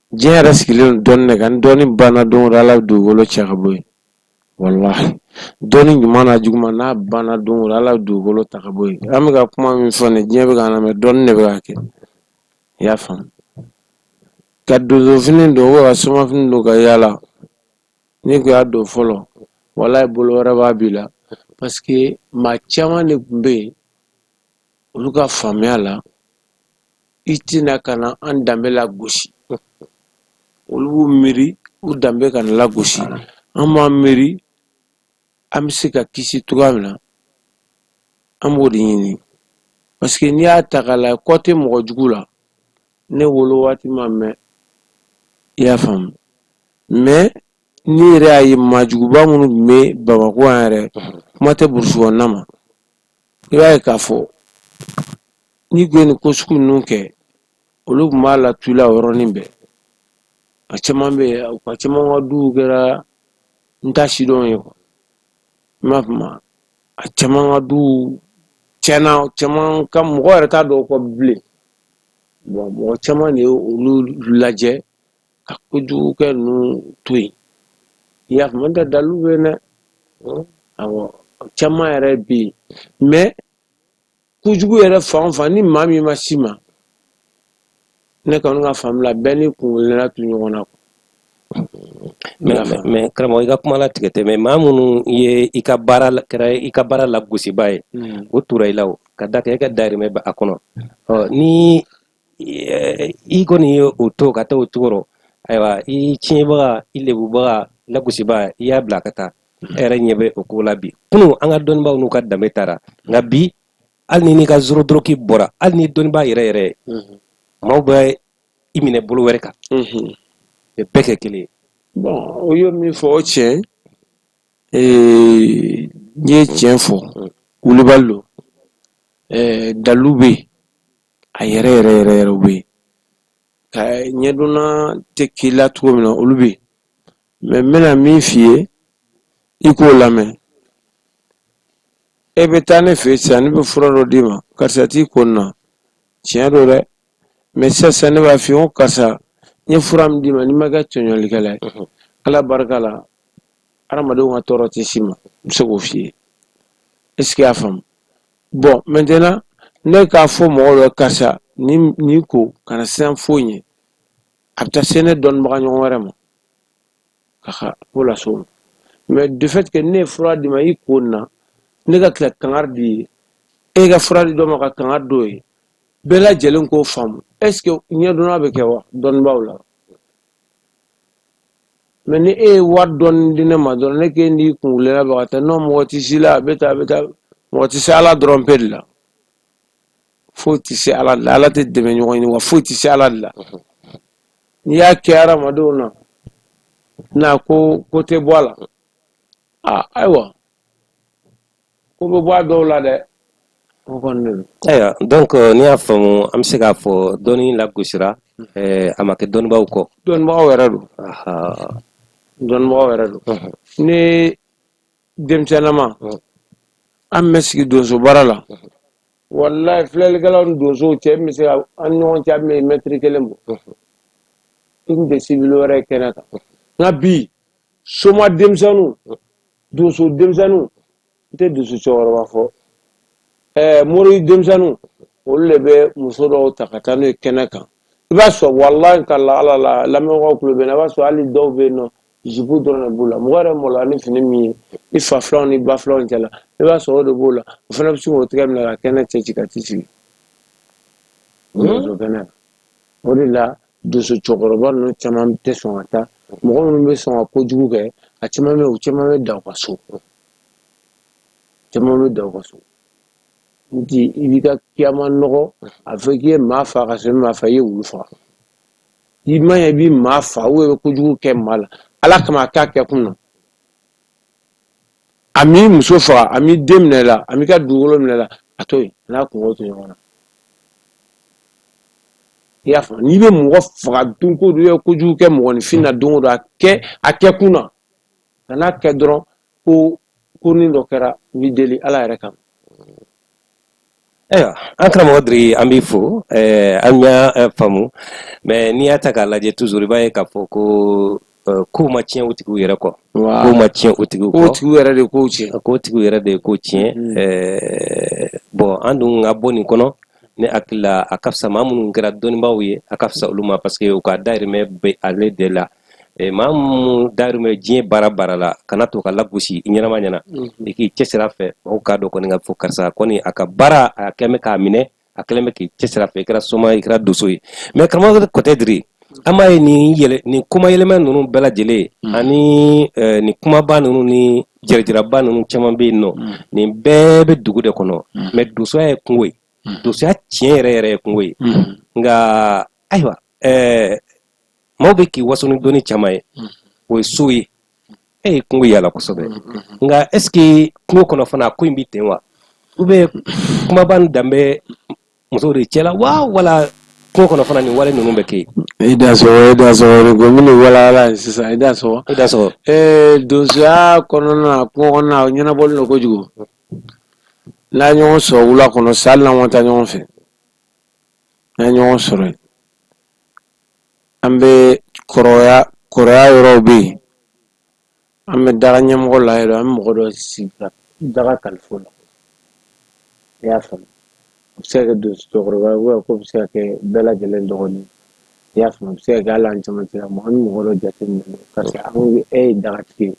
diɲɛ yɛrɛ sigilen don dɔnni de kan ni dɔnni banna don o don ala bɛ dugukolo cɛ ka bɔ yen walahi dɔnni ɲuman n'a juguman n'a banna don o don ala bɛ dugukolo ta ka bɔ yen an bɛ ka kuma min fɔ nin diɲɛ bɛ k'a lamɛn dɔnni de bɛ ka kɛ i y'a faamu ka donsofini don ou bien ka somafini don ka yaala n'i kun y'a don fɔlɔ walahi bolo wɛrɛ b'a b'i la parce que maa caman de tun bɛ yen olu ka faamuya la i tɛna ka na an danbe lagosi olu b'u miiri u danbe kana lagosi an b'an miiri an bɛ se ka kisi cogoya min na an b'o de ɲini parce que n'i y'a ta k'a lajɛ côté mɔgɔ jugu la ne wolo waati ma mɛn i y'a faamu mais n'i yɛrɛ y'a ye maajuguba minnu tun bɛ bamakɔ yan yɛrɛ kuma tɛ burusi kɔnɔna ma i b'a ye k'a fɔ n'i kun ye nin ko sugu ninnu kɛ olu tun b'a la tula yɔrɔnin bɛɛ a caman bɛ yen u ka caman ka duw kɛra n t'a sidɔn ye quoi i m'a faamu a caman ka duw tiɲɛna caman ka mɔgɔ yɛrɛ t'a dɔn kɔ bilen bon mɔgɔ caman de ye olu lajɛ ka kojugukɛ ninnu to yen y'a faamu tɛ dalu bɛ yen dɛ awɔ caman yɛrɛ bɛ yen mais kojugu yɛrɛ fan o fan ni maa min ma s'i ma ne kɔni ka faamu la bɛɛ ni kunkelenna tu ɲɔgɔn na mais karamɔgɔ i ka kuma latigɛ tɛ mais maa minnu ye i ka baara kɛra i ka baara lagosiba ye hmm. o tora i la o ka da kɛ e ka darimɛ bɛ a kɔnɔ ni i kɔni ye o to ka taa o cogo rɔ ayiwa i tiɲɛbaga i lebubaga lagosiba i y'a bila ka taa e yɛrɛ ɲɛ bɛ o ko la bi kunun an ka dɔnnibaaw n'u ka danbe taara nka bi hali ni n'i ka zoro doroki bɔra hali ni dɔnnibaa yɛrɛ yɛrɛ ye maaw bɛ i minɛ bolo wɛrɛ kan bɛ bɛɛ kɛ kelen ye bon o ye min fɔ o tiɲɛ n ye tiɲɛ fɔ wulibali don dalu bɛ yen a yɛrɛ yɛrɛ yɛrɛ yɛrɛ bɛ yen ka ɲɛdonna tɛ k'i la cogo min na olu bɛ yen mais n bɛna min f'i ye i k'o lamɛn e bɛ taa ne fɛ yen sisan ne bɛ fura dɔ d'i ma karisa t'i ko nin na tiɲɛ don dɛ mais sisan ne b'a f'i ye ko karisa n ye fura min d'i ma n'i ma kɛ tɔɲɔlikɛla ye ala barika la hadamadenw ka tɔɔrɔ tɛ s'i ma n bɛ se k'o f'i ye est ce que y'a faamu bon maintenant ne k'a fɔ mɔgɔ dɔ karisa ni ni ko kana siran foyi ɲɛ a bɛ taa se ne dɔnnibaga ɲɔgɔn wɛrɛ ma ka ka ko lase o ma mais de fait que ne ye fura d'i ma i ko nin na ne ka tila kangari d'i ye e ka fura di dɔ ma ka kangari d'o ye bɛɛ lajɛlen k'o faamu est ce que ɲɛdɔnna bɛ kɛ wa dɔnnibaaw la mais ni e ye wari dɔɔni di ne ma dɔrɔn ne k'e n'i kunwulila bɛ ka taa non mɔgɔ tɛ s'i la a bɛ taa a bɛ taa mɔgɔ tɛ se ala dɔrɔn pe de la foyi tɛ se ala de la ala tɛ dɛmɛ ɲɔgɔn ɲini wa foyi tɛ se ala de la n'i y'a kɛ hadamadenw na n'a ko ko tɛ bɔ a la a ayiwa ko bɛ bɔ a dɔw la dɛ o kɔni de don ayiwa donc euh, n'i y'a faamu an bɛ se k'a fɔ dɔnni lagosira eh, a ma kɛ dɔnnibaaw kɔ dɔnnibagaw yɛrɛ don Aha. dɔnnibagaw yɛrɛ don Mhm. ne denmisɛnnama Mhm. an bɛ sigi donso baara la walayi filɛlikɛlaw ni donsow cɛ min bɛ se ka an ni ɲɔgɔn cɛ a bɛ mɛtiri kelen bɔ Mhm. i tun tɛ sibili wɛrɛ ye kɛnɛ kan nka bi soma denmisɛnninw donso denmisɛnninw n tɛ donso cɛkɔrɔba fɔ ɛɛ mori denmisɛnninw olu de bɛ muso dɔw ta ka taa n'u ye kɛnɛ kan i b'a sɔrɔ walayi ka la ala la lamɛnbagaw tulo b'an na i b'a sɔrɔ hali dɔw bɛ yen nɔ zipu dɔrɔn de b'u la mɔgɔ yɛrɛ malo ni fini min ye i fa filaw ni ba filaw cɛla i b'a sɔrɔ o de b'o la o fana bɛ se k'o tɛgɛ minɛ ka kɛnɛ cɛ ci ka t'i sigi donso kɛnɛ o de la donso cɛkɔrɔba ninnu caman tɛ sɔn ka taa mɔgɔ minnu bɛ sɔn ka kojugu kɛ a caman bɛ u caman bɛ da u ka so caman bɛ da u ka so nɔntɛ i b'i ka kiyama nɔgɔ a fɔ k'i ye maa fa ka sɔrɔ maa fa i ye wulu faga i ma ɲɛ i bɛ maa fa ou i bɛ kojugu kɛ maa la ala kama a kɛ a kɛ kun na a m'i muso faga a m'i den minɛ la a m'i ka dugukolo minɛ la a to yen n'a kunko to ɲɔgɔn na i y'a faamu n'i bɛ mɔgɔ faga don ko don i ye kojugu kɛ mɔgɔninfin na don o don a kɛ a kɛ kun na kan'a kɛ dɔrɔn ko ko ni dɔ kɛra n b'i deli ala yɛrɛ kama ayiwa an karamɔgɔ diri an b'i fo eh, an y'a eh, faamu mais n'i y'a ta k'a lajɛ toujours i b'a ye k'a fɔ ko eh, kow ma tiɲɛ o tigiw yɛrɛ kɔ kow ma tiɲɛ o tigiw kɔ tigiw yɛrɛ de kow tiɲɛ ko tigiw yɛrɛ de ye ko tiɲɛ bon an dun ka bɔ nin kɔnɔ ne hakili la a ka fisa maa minnu kɛra dɔnnibaaw ye a ka fisa olu ma parce que u ka dayirimɛ bɛ ale de la eh, maa minnu darimɛ diɲɛ baara baara la kana to k'a lagosi i ɲɛnama ɲɛ na mhm. i k'i cɛsiri a fɛ mɔgɔw k'a dɔn kɔni k'a fɔ karisa kɔni a ka baara a kɛlen bɛ k'a minɛ a kɛlen bɛ k'i cɛsiri a fɛ i kɛra soma i kɛra doso ye mais karamɔgɔ kɔtɛ diri an b'a ye nin yɛlɛ nin kuma yɛlɛma ninnu bɛɛ lajɛlen mhm. ani eh, nin kumaba ninnu ni yɛrɛjiraba ninnu caman bɛ yen nɔ mhm. nin bɛɛ bɛ dugu de kɔnɔ mais dosoya ye kungo ye dosoya tiɲɛ yɛrɛ yɛrɛ ye kungo ye nka ayiwa ɛɛ maaw bɛ k'i waso ni dɔnni caman ye o ye so ye e ye kungo yala kosɛbɛ nka est ce que kungo kɔnɔ fana ko in bɛ ten wa ou bien kumaba nin dan bɛ musow de cɛla wa wala kungo kɔnɔ fana nin wale ninnu bɛ kɛ yen. i dansɔgɔ i dansɔgɔ de ko minnu walawala ye sisan i dansɔgɔ. i dansɔgɔ. ee donsoya kɔnɔna na kungo kɔnɔna na o ɲɛnabɔlen don kojugu n'an ɲɔgɔn sɔrɔ wula kɔnɔ sa hali n'an ma taa ɲɔgɔn fɛ n'an ɲɔgɔn sɔrɔ an bɛ kɔrɔya kɔrɔya yɔrɔw bɛ yen an bɛ daga ɲɛmɔgɔ la yɛrɛ an bɛ mɔgɔ dɔ sigi ka daga kalifa o la i y'a faamu a bɛ se ka kɛ donso cɛkɔrɔba ye k'o bɛ se ka kɛ bɛɛ lajɛlen dɔgɔnin i y'a faamu a bɛ se ka kɛ hali an cɛmancɛ mɔgɔ ni mɔgɔ dɔ jateminɛ parce que an e ye dagatigi ye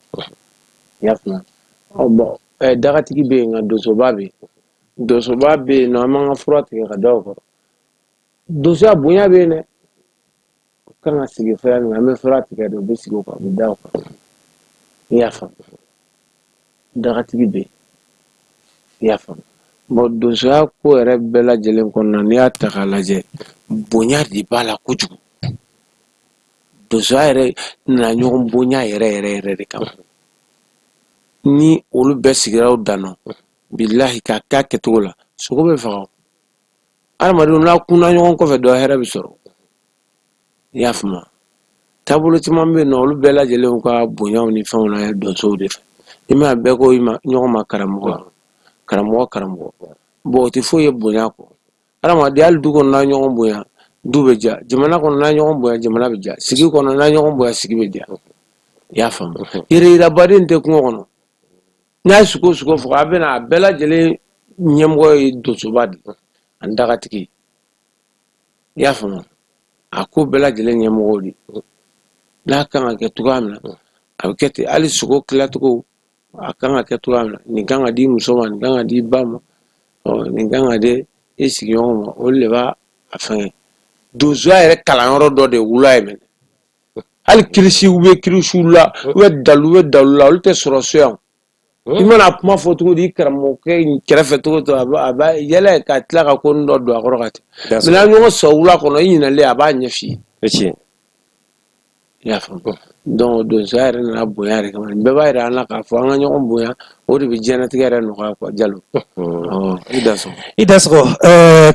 i y'a faamu ɔ bon dagatigi bɛ yen nka donsoba bɛ yen donsoba bɛ yen nɔ an b'an ka fura tigɛ ka da o kɔrɔ donsoya bonya bɛ yen dɛ u kan ka sigi fɛn min an bɛ fura tigɛ de u bɛ sigi o kan u bɛ da o kan i y'a faamu dagatigi bɛ yen i y'a faamu bon donsoya ko yɛrɛ bɛɛ lajɛlen kɔnɔna n'i y'a ta k'a lajɛ bonya de b'a la kojugu donsoya yɛrɛ nana ɲɔgɔn bonya yɛrɛ yɛrɛ yɛrɛ de kama ni olu bɛɛ sigira u dan bilahi k'a k'a kɛcogo la sogo bɛ faga adamadenw n'a kunna ɲɔgɔn kɔfɛ dɔ hɛrɛ bɛ sɔrɔ i y'a faamu taabolo caman bɛ yen nɔ olu bɛɛ lajɛlen ka bonyaw ni fɛnw na donsow de fɛ i ma bɛɛ ko i ma ɲɔgɔn ma karamɔgɔ karamɔgɔ karamɔgɔ bon o tɛ foyi ye bonya kɔ adamaden hali du kɔnɔ n'a ɲɔgɔn bonya du bɛ diya jamana kɔnɔ n'a ɲɔgɔn bonya jamana bɛ diya sigi kɔnɔ n'a ɲɔgɔn bonya sigi bɛ diya i y'a faamu yɛrɛ yirabaden tɛ kungo kɔnɔ n'a ye sogo sogo faga a bɛ na a bɛɛ lajɛlen ɲɛmɔgɔ ye donsoba de ye ani dagatigi i y'a faamu a ko bɛɛ lajɛlen ɲɛmɔgɔ de n'a kan ka kɛ cogoya min na a bɛ kɛ ten hali sogo tilacogo a kan ka kɛ cogoya min na nin kan ka di muso ma nin kan ka di ba ma nin kan ka di i sigiɲɔgɔn ma olu de b'a a fɛngɛ donsoya yɛrɛ kalanyɔrɔ dɔ de wula ye mɛnɛ hali kirisiw bɛ kirisiw la u bɛ dalu bɛ dalu la olu tɛ sɔrɔ so yan i mana kuma fɔ cogo di i karamɔgɔkɛ kɛrɛfɛ cogo to a b'a yɛlɛ ka tila ka ko dɔ don a kɔrɔ ka tɛmɛ n'a ɲɔgɔn sɔrɔ wula kɔnɔ i ɲinalen a b'a ɲɛ f'i ye i y'a faamu donc donsoya yɛrɛ nana bonya yɛrɛ kama bɛɛ b'a yira an na k'a fɔ an ka ɲɔgɔn bonya o de bɛ diɲɛlatigɛ yɛrɛ nɔgɔya quoi jalo i dansɔgɔ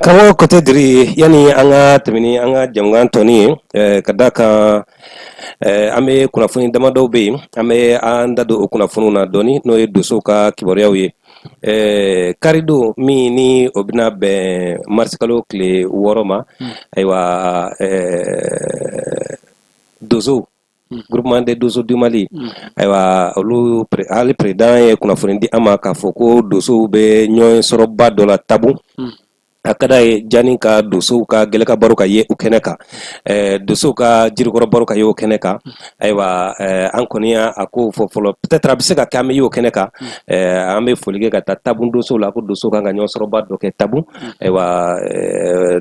karamɔgɔ kotɛ diri yanni an ka tɛmɛ ni an ka jamukan tɔni ye ka da kan an bɛ kunnafoni damadɔw bɛ yen an bɛ an da don o kunnafoniw na dɔɔni n'o ye donsow ka kibaruyaw ye karidon min ni o bɛna bɛn marisikalo tile wɔɔrɔ ma hmm. ayiwa donsow Mm. groupement des doso du mali mm. ayiwa olu hali président ye kunnafoni di an ma k'a fɔ ko dosow bɛ ɲɔgɔn sɔrɔba dɔ la tabu mm. a ka d'a ye jani ka dosow ka gɛlɛkan baro ka ye o kɛnɛ kan eh, dosow ka jirikɔrɔ baro ka ye o kɛnɛ kan ayiwa eh, an kɔni y'a a ko fɔ fɔlɔ peut-être a bɛ se ka kɛ an bɛ ye o kɛnɛ kan eh, an bɛ foli kɛ ka taa tabu dosow la ko dosow kan ka ɲɔgɔn sɔrɔba dɔ kɛ tabu ayiwa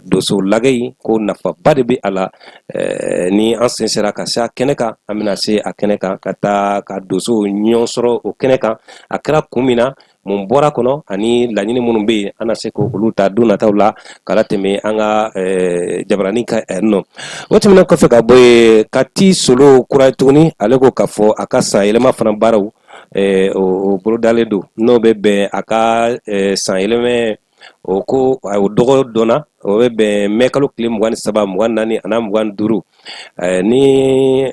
dosow lagɛ in ko nafaba de bɛ a la Eh, ni an sen sera ka se a kɛnɛ kan an bɛna se a kɛnɛ kan ka taa ka donsow ɲɔgɔn sɔrɔ o kɛnɛ kan a kɛra kun min na mun bɔra kɔnɔ ani laɲini minnu bɛ yen an na se k'olu ta don nataw la k'a latɛmɛ an ka eh, jabarani kan eh, nɔ o tɛmɛnen kɔfɛ ka bɔ yen kati solo kura tuguni ale ko k'a fɔ a ka san yɛlɛma fana baaraw o bolodalen don n'o bɛ bɛn a ka san yɛlɛma o ko a o dɔgɔ dɔnna o bɛ bɛn mɛ kalo tile mugan ni saba mugan naani ani mugan duuru eh, ni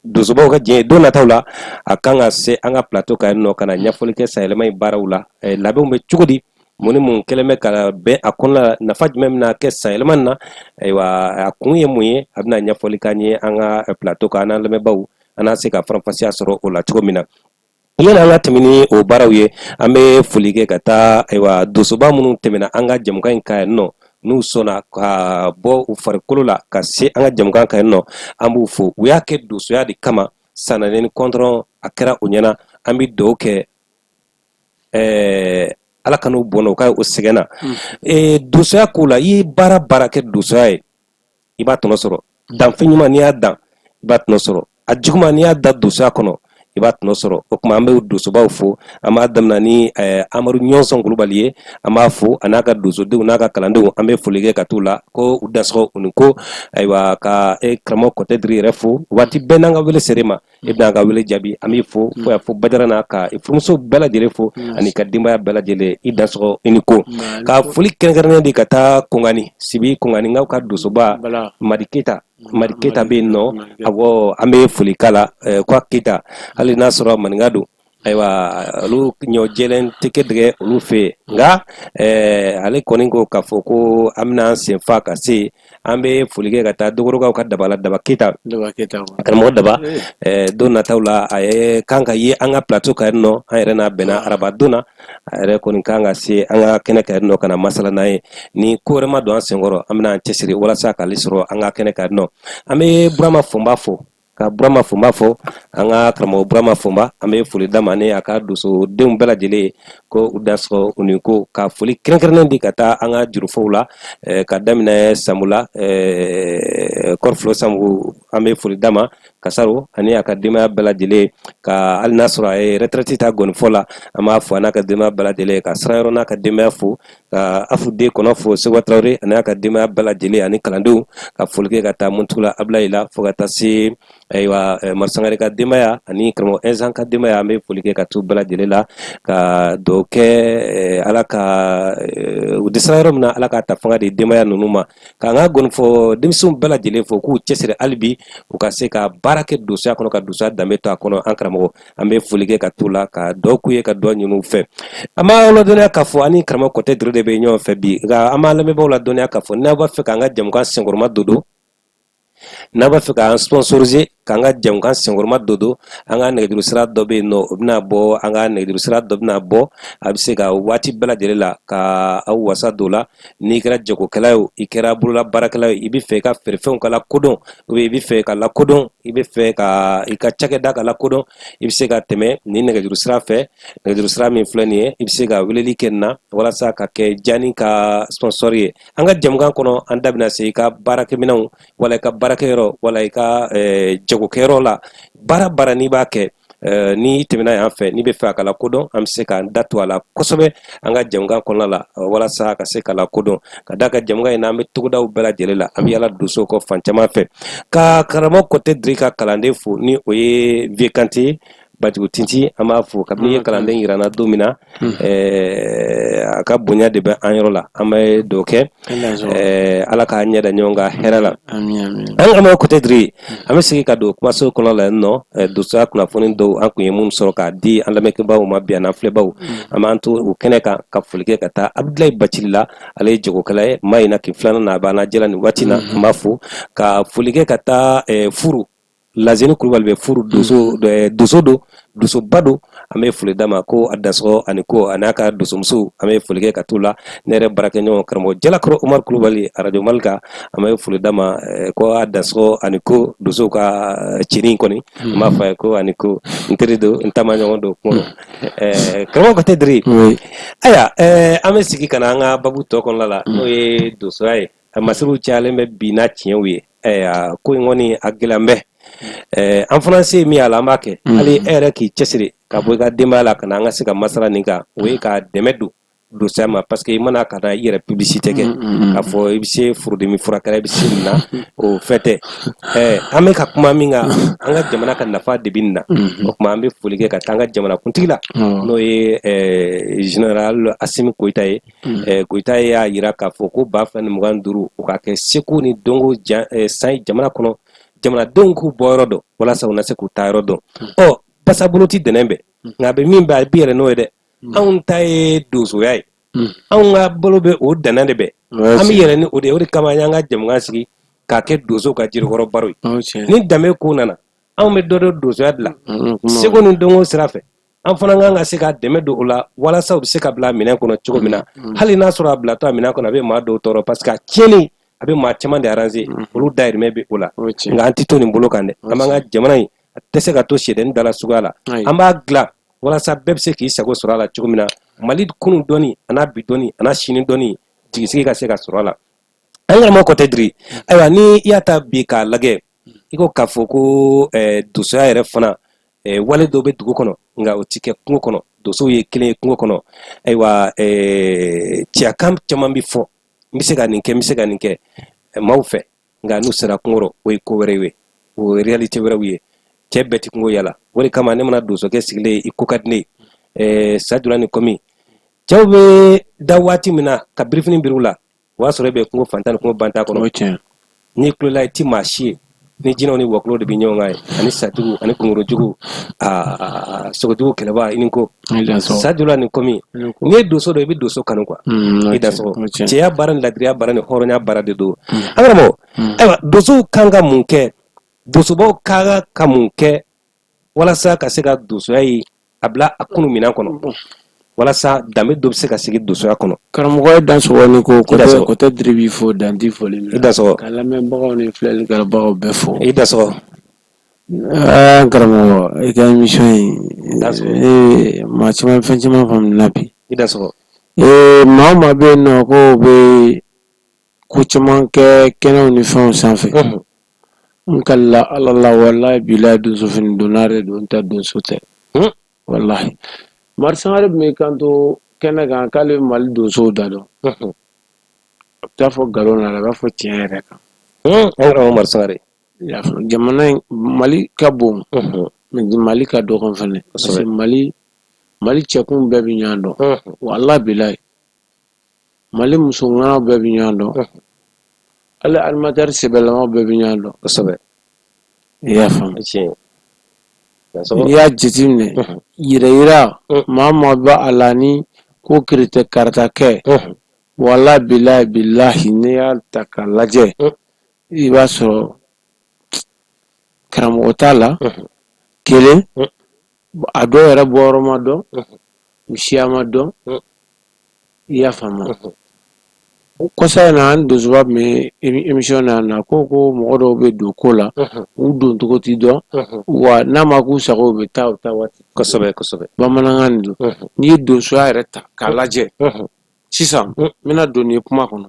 donsobaw ka diɲɛ don nataw la a kan ka se an ka plateau kan nɔ ka na ɲɛfɔli kɛ sanyɛlɛma in baaraw la eh, labɛnw bɛ cogo di mun ni mun kɛlen bɛ ka bɛn a kɔnɔna la nafa jumɛn bɛna kɛ sanyɛlɛma na ayiwa a kun ye mun ye a bɛna ɲɛfɔli k'an ye an ka plateau kan an n'an lamɛnbaaw an na se ka faranfasiya sɔrɔ o la cogo min na Yani an ka tɛmɛ ni o baaraw ye an bɛ foli kɛ ka taa ayiwa donsoba minnu tɛmɛna an ka jamukan in kan yan nɔ n'u sɔnna ka bɔ u farikolo la ka se an ka jamukan kan yan nɔ an b'u fo u y'a kɛ donsoya de kama sanɛnɛ ni kɔntɔrɔn a kɛra u ɲɛna an bɛ dugawu kɛ ɛɛ ala kan'u bɔnɛ u ka o sɛgɛn na donsoya ko la i ye baara baara kɛ donsoya ye i b'a tɔnɔ sɔrɔ danfɛn ɲuman n'i y'a dan i b'a tɔnɔ sɔrɔ a juguman n'i y'a dan donsoya kɔnɔ i b'a tɔnɔ sɔrɔ o kuma an bɛ donsobaw fo an b'a daminɛ ni eh, amadu ɲɔnsɔn kulubali ye an b'a fo a n'a ka donsodenw n'a ka kalandenw an bɛ foli kɛ ka t'u la ko u dansɔgɔ u ni ko ayiwa ka eh, karamɔgɔ kɔtɛ diri yɛrɛ fo waati bɛɛ n'an ka wele ser'e ma i bɛna an ka wele jaabi an b'i fo fo y'a fɔ badara n'a ka furumuso bɛɛ lajɛlen fo ani i ka denbaya bɛɛ lajɛlen i dansɔgɔ i ni ko ka foli kɛrɛnkɛrɛnnen di ka taa kɔngani sibi kɔnganinkaw ka donsoba madi keyita madi keyita bɛ yen nɔ awɔ an bɛ foli k'a la ko a keyita hali n'a sɔrɔ maninka don ayiwa olu ɲɔ jɛlen tigɛdɛgɛ olu fɛ yen nka eh, ale kɔni ko k'a fɔ ko an bɛna an sen fa ka se an bɛ foli kɛ ka taa dogorokaw ka daba la daba keyita karamɔgɔ daba eh. Eh, don nataw la a ye kan ka ye an ka plateau kan yan nɔ an yɛrɛ n'a bɛnna ah. araba don na a yɛrɛ kɔni kan ka se an ka kɛnɛ kan yan nɔ ka na masala n'a ye ni ko wɛrɛ ma don an senkɔrɔ an bɛna an cɛsiri walasa k'ale sɔrɔ an ka kɛnɛ kan yan nɔ an bɛ burama fɔnba fo ka burama fɔnba fo an ka karamɔgɔ burama fɔnba an bɛ foli d'a ma ni a ka donsodenw bɛɛ lajɛlen ko u dansɔgɔ u ni ko ka foli kɛrɛnkɛrɛnnen di ka taa an ka jurufɔw la eh, ka daminɛ samu la eh, kɔrɔfilo samu an bɛ foli d'a ma kasaro ani a ka denbaya bɛɛ lajɛlen ka hali n'a sɔrɔ a ye retraite ta gɔnifɔ la an b'a fo a n'a ka denbaya bɛɛ lajɛlen ka sirayɔrɔ n'a ka denbaya fo ka afu den kɔnɔ fo sekuba tarawele ani a ka denbaya bɛɛ lajɛlen ani kalandenw ka foli kɛ ka taa muntugula abilayi la fo ka taa se ayiwa madu sangare ka denbaya ani karamɔgɔ ɛnzan ka denbaya an bɛ foli kɛ ka t'u bɛɛ lajɛlen la ka dugawu kɛ ala ka u dɛsɛra yɔrɔ min na ala ka ta fanga di denbaya ninnu ma k'an ka gɔnifɔ denmisɛnw bɛɛ lajɛlen fo k'u cɛsiri hali bi u ka se ka baara kɛ donsoya kɔnɔ ka donsoya danbe to a kɔnɔ an karamɔgɔ an bɛ foli kɛ ka t'u la ka dugawu k'u ye ka dugawu ɲini u fɛ an b'a ladɔnniya k'a fɔ an ni karamɔgɔ kɔtɛ diri de bɛ ɲɔgɔn fɛ bi nka an b'a lamɛnbaaw ladɔnniya k'a fɔ n'a b'a fɛ k'an ka jɛmukan senkɔrɔmadondon n'a b'a fɛ k'an sponsoriser k'an ka jɛmukan senkɔrɔmadondon an ka nɛgɛjuru sira dɔ bɛ yen nɔ o bɛna bɔ an ka nɛgɛjuru sira dɔ bɛna bɔ a bɛ se ka waati bɛɛ lajɛlen la ka aw wasa don o la n'i kɛra jagokɛla ye i kɛra bolola baarakɛla ye i bɛ fɛ i ka feerefɛnw ka lakodɔn u bɛ i bɛ fɛ ka lakodɔn i bɛ fɛ ka i ka cakɛda ka lakodɔn i bɛ se ka tɛmɛ nin nɛgɛjuru sira fɛ nɛgɛjuru sira min filɛ nin ye i bɛ se ka weleli kɛ nin na walasa ka kɛ jaani ka sponsor ye an ka jamukan kɔnɔ an da bɛna se i ka baarakɛminɛnw wala i ka baarakɛyɔrɔ wala i ka eh, jagokɛyɔrɔ la baara baara n'i b'a kɛ Eh, n'i tɛmɛna yan fɛ n'i bɛ fɛ a ka lakodɔn an bɛ se k'an da to a la kosɛbɛ an ka jɛmukan kɔnɔna la eh, walasa a ka se ka lakodɔn ka d'an ka jɛmukan in na an bɛ togodaw bɛɛ lajɛlen la an bɛ yala donsow kɔ fan caman fɛ ka karamɔgɔ Kɔtɛ Diri ka kalanden fo ni o ye Vieux Kante Bajugu Tinti an b'a fo kabini i ye kalanden yira an na don min na a ka bonya de bɛ an yɔrɔ la an bɛ dɔ kɛ ala k'an ɲɛ da ɲɔgɔn kan hɛrɛ la an karamɔgɔ Kɔtɛ Diri an bɛ segin ka don kumaso kɔnɔ la nɔ donsoya kunnafoni dɔw an kun ye minnu sɔrɔ k'a di an lamɛnbaw ma bi an filɛbaw an b'an to o kɛnɛ kan ka foli kɛ ka taa Abudulayi Bacili la ale ye jagokɛla ye Mahina kin filanan na a b'an lajɛ la nin waati na an b'a fo ka foli kɛ ka taa Furu Lazini Kulubali bɛ Furu donso don donsoba don an bɛ foli d'a ma ko a dansɔgɔ a ni ko a n'a ka donsomuso an bɛ foli kɛ ka t'u la ne yɛrɛ baarakɛɲɔgɔn karamɔgɔ Jalakɔrɔ Umaru Kulubali arajo mali kan an bɛ foli d'a ma ko a dansɔgɔ a ni ko donsow ka cinin kɔni n b'a fɔ a ye ko a ni ko n teri don n taamaɲɔgɔn don kuma ɛɛ karamɔgɔ Kɔtɛ Diri ayiwa ɛɛ an bɛ segin ka na an ka babu tɔ kɔnɔna la n'o ye donsoya ye a masiriw cayalen bɛ bi n'a tiɲɛw ye ko in kɔni a gɛlɛn bɛ an fana se min a la an b'a kɛ mm. hali e yɛrɛ k'i cɛsiri ka bɔ i ka denbaya la ka na an ka se ka masala nin kan o ye ka dɛmɛ don donsoya ma parce que i mana ka na i yɛrɛ publicité kɛ mm, mm, k'a fɔ i bɛ se furudimi furakɛla i bɛ se nin na o fɛn tɛ an bɛ ka kuma min kan an ka jamana ka nafa de bɛ nin na o tuma an bɛ foli kɛ ka taa an ka jamanakuntigi la n'o ye général Asimi Goyita ye Eh, Goyita ye y'a jira k'a fɔ ko ba fila ni mugan duuru o ka kɛ seko ni dɔnko eh, san jamana kɔnɔ jamanadenw k'u bɔ yɔrɔ dɔn walasa u na se k'u taa yɔrɔ dɔn hmm. ɔ basabolo tɛ dɛnɛn bɛɛ hmm. nka a bɛ min bɛ a bɛ yɛlɛn n'o ye dɛ hmm. anw ta ye donsoya ye anw ka bolo bɛ o dɛnɛn de bɛ an bɛ yɛlɛn ni o de ye o de kama an y'an ka jɛmukan sigi k'a kɛ donsow ka jirikɔrɔ baro ye ni danbe ko nana anw bɛ dɔ dɔ donsoya dilan seko ni dɔnko sira fɛ an fana kan ka se ka dɛmɛ don o la walasa o bɛ se ka bila minɛn kɔnɔ cogo min na mm, mm. hali n'a sɔrɔ a bilatɔ a minɛn kɔnɔ a bɛ maa dɔw tɔɔrɔ parce que a tiɲɛnen a bɛ maa caman de arranger mm, olu dayirimɛ bɛ o la nka an tɛ to nin bolo kan dɛ an b'an ka jamana in a tɛ se ka to sɛdɛni dala suguya la an b'a dilan walasa bɛɛ bɛ se k'i sago sɔrɔ a la cogo min na Mali kunun dɔnni a n'a bi dɔnni a n'a sini dɔnni jigisigi ka se ka sɔrɔ a la an karamɔgɔ Kɔtɛ Diri ayiwa ni i y'a ta bi k'a lajɛ i ko k'a fɔ ko eh, dosoya yɛrɛ fana eh, wale dɔ bɛ dugu kɔnɔ nka o tɛ kɛ kungo kɔnɔ dosow ye kelen ye kungo kɔnɔ ayiwa eh, cɛyakan caman bɛ fɔ n bɛ se ka nin kɛ n bɛ se ka nin kɛ maaw fɛ nka n'u sera kungo rɔ o ye ko wɛrɛ ye o ye réalité wɛrɛw ye cɛ bɛɛ tɛ kungo yala o de kama ne mana donsokɛ sigilen ye i ko ka di ne ye sabula ni kɔmi cɛw bɛ da waati min na ka birifini biri u la o y'a sɔrɔ e bɛ kungo fantan ni kungo bantan kɔnɔ n'i kulola i ti maa si ye ni jinɛw ni wɔkulɔw de bɛ ɲɔgɔn kan yen ani satigiw ani kungorojugu aa sogojugu kɛlɛba i ni ko sa donna nin komi n'i ye donso dɔn i bɛ donso kanu quoi mm, i dansɔgɔ cɛya baara ni ladiriya baara ni hɔrɔnya baara de don mm. an karamɔgɔ mm. ayiwa donsow kan ka mun kɛ donsobaw kan ka mun kɛ walasa ka se ka donsoya ye a bila a kunu minɛn kɔnɔ walasa danbe dɔ bɛ se ka sigi donsoya kɔnɔ karamɔgɔ i dansɔgɔ ni ko kote diri b'i fo dan tɛ foli i dansɔgɔ ka lamɛnbagaw ni filɛlikɛbagaw bɛɛ fo i dansɔgɔ aa karamɔgɔ i ka émission in maa caman fɛn caman faamuna bi i dansɔgɔ ee maa o maa bɛ yen nɔ ko bɛ ko caman kɛ kɛnɛw ni fɛnw sanfɛ n kalila ala la walahi bilahi donso fini donna de don nka donso tɛ walahi mari sangare tun bɛ kanto kɛnɛ kan k'ale mali donsow da dɔn a t'a fɔ nkalon na a b'a fɔ tiɲɛ yɛrɛ kan mari sangare jamana mali ka bon mais mali ka dɔgɔn fana parce que mali cɛkun bɛɛ bɛ ɲɔgɔn dɔn walahi bilahi mali muso ŋanaw bɛɛ bɛ ɲɔgɔn dɔn hali animateur sɛbɛlamaw bɛɛ bɛ ɲɔgɔn dɔn kosɛbɛ i y'a faamu n'i y'a jateminɛ yirayira maa maa bɛ a la ni ko kiritɛ karata kɛ walahi bila bilahi n'i y'a ta k'a lajɛ i b'a sɔrɔ karamɔgɔ t'a la kelen a dɔw yɛrɛ bɔyɔrɔ ma dɔn u siya ma dɔn i y'a faamu o kɔsa in na an donsoba tun bɛ émission na ko ko mɔgɔ dɔw bɛ don ko la u don cogo tɛ dɔn wa n'a ma k'u sago u bɛ taa u taa waati kosɛbɛsɛbɛ bamanankan don n'i ye donsoya yɛrɛ ta k'a lajɛ sisan n bɛna don ye kuma kɔnɔ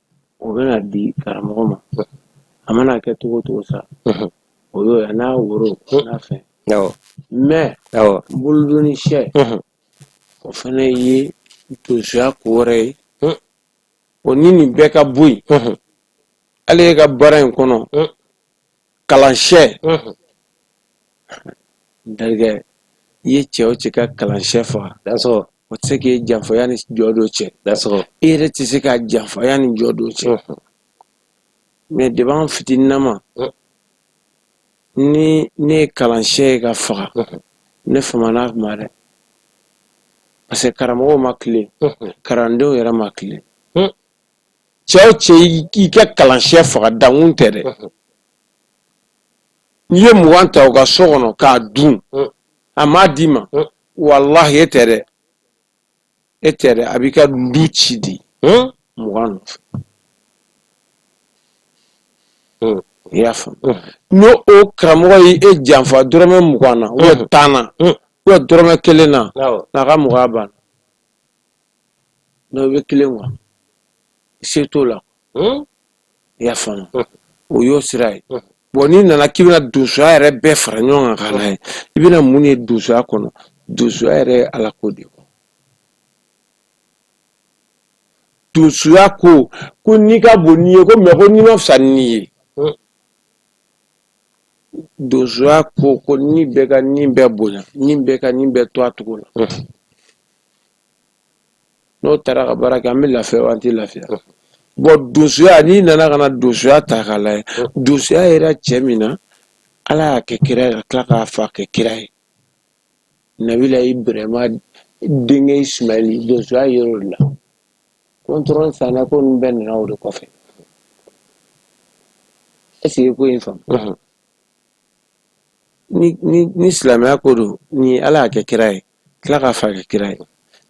o bɛna di karamɔgɔ ma a mana kɛ cogo o cogo sa o y'o ye n'a woro n'a fɛn mɛ bolodonni sɛ o fana ye donsoya ko wɛrɛ ye o ni nin bɛɛ ka bɔ yen hali e ka baara in kɔnɔ kalan sɛ n terikɛ i ye cɛ o cɛ ka kalan sɛ faga o tɛ se k'i janfa yanni jɔ don cɛ e yɛrɛ tɛ se k'a janfa yanni jɔ don cɛ mais depuis an fitininnama ni ne ye kalan sɛ ye k'a faga ne fa mana kuma dɛ parce que karamɔgɔw ma tilen kalandenw yɛrɛ ma tilen cɛ o cɛ i ka kalan sɛ faga dankun tɛ dɛ n'i ye mugan ta u ka so kɔnɔ k'a dun a m'a d'i ma walahi e tɛ dɛ e tɛ dɛ a b'i ka du ci di mugan nɔfɛ i y'a faamu n'o o karamɔgɔ ye e janfa dɔrɔmɛ mugan na ubiyɛn tan na ubiyɛn dɔrɔmɛ kelen na n'a ka mɔgɔya banna n'o bɛ kelen wa se t'o la Hmm? i y'a faamu hmm. o y'o sira ye hmm. bɔn n'i nana k'i bɛna donsoya yɛrɛ bɛɛ fara ɲɔgɔn kan k'a lajɛ i bɛna mun de ye donsoya kɔnɔ donsoya yɛrɛ ye ala ko de ye donsoya ko ko ni ka bon ni ye ko mɛ ko ni man fisa ni ye donsoya ko ko ni bɛɛ ka ni bɛɛ bonya ni bɛɛ ka ni bɛɛ to a cogo la n'o taara ka baara kɛ an bɛ lafiya wa an tɛ lafiya bɔn donsoya n'i nana ka na donsoya ta k'a lajɛ donsoya yera cɛ min na ala y'a kɛ kira ye ka tila k'a fa kɛ kira ye nabila ibrahima denkɛ ismaili donsoya yer'o de la kɔntɔrɔn sanɛ ko ninnu bɛɛ nana o de kɔfɛ ɛseke ko in faamu ni silamɛya ko don ni ala y'a kɛ kira ye tila k'a fa kɛ kira ye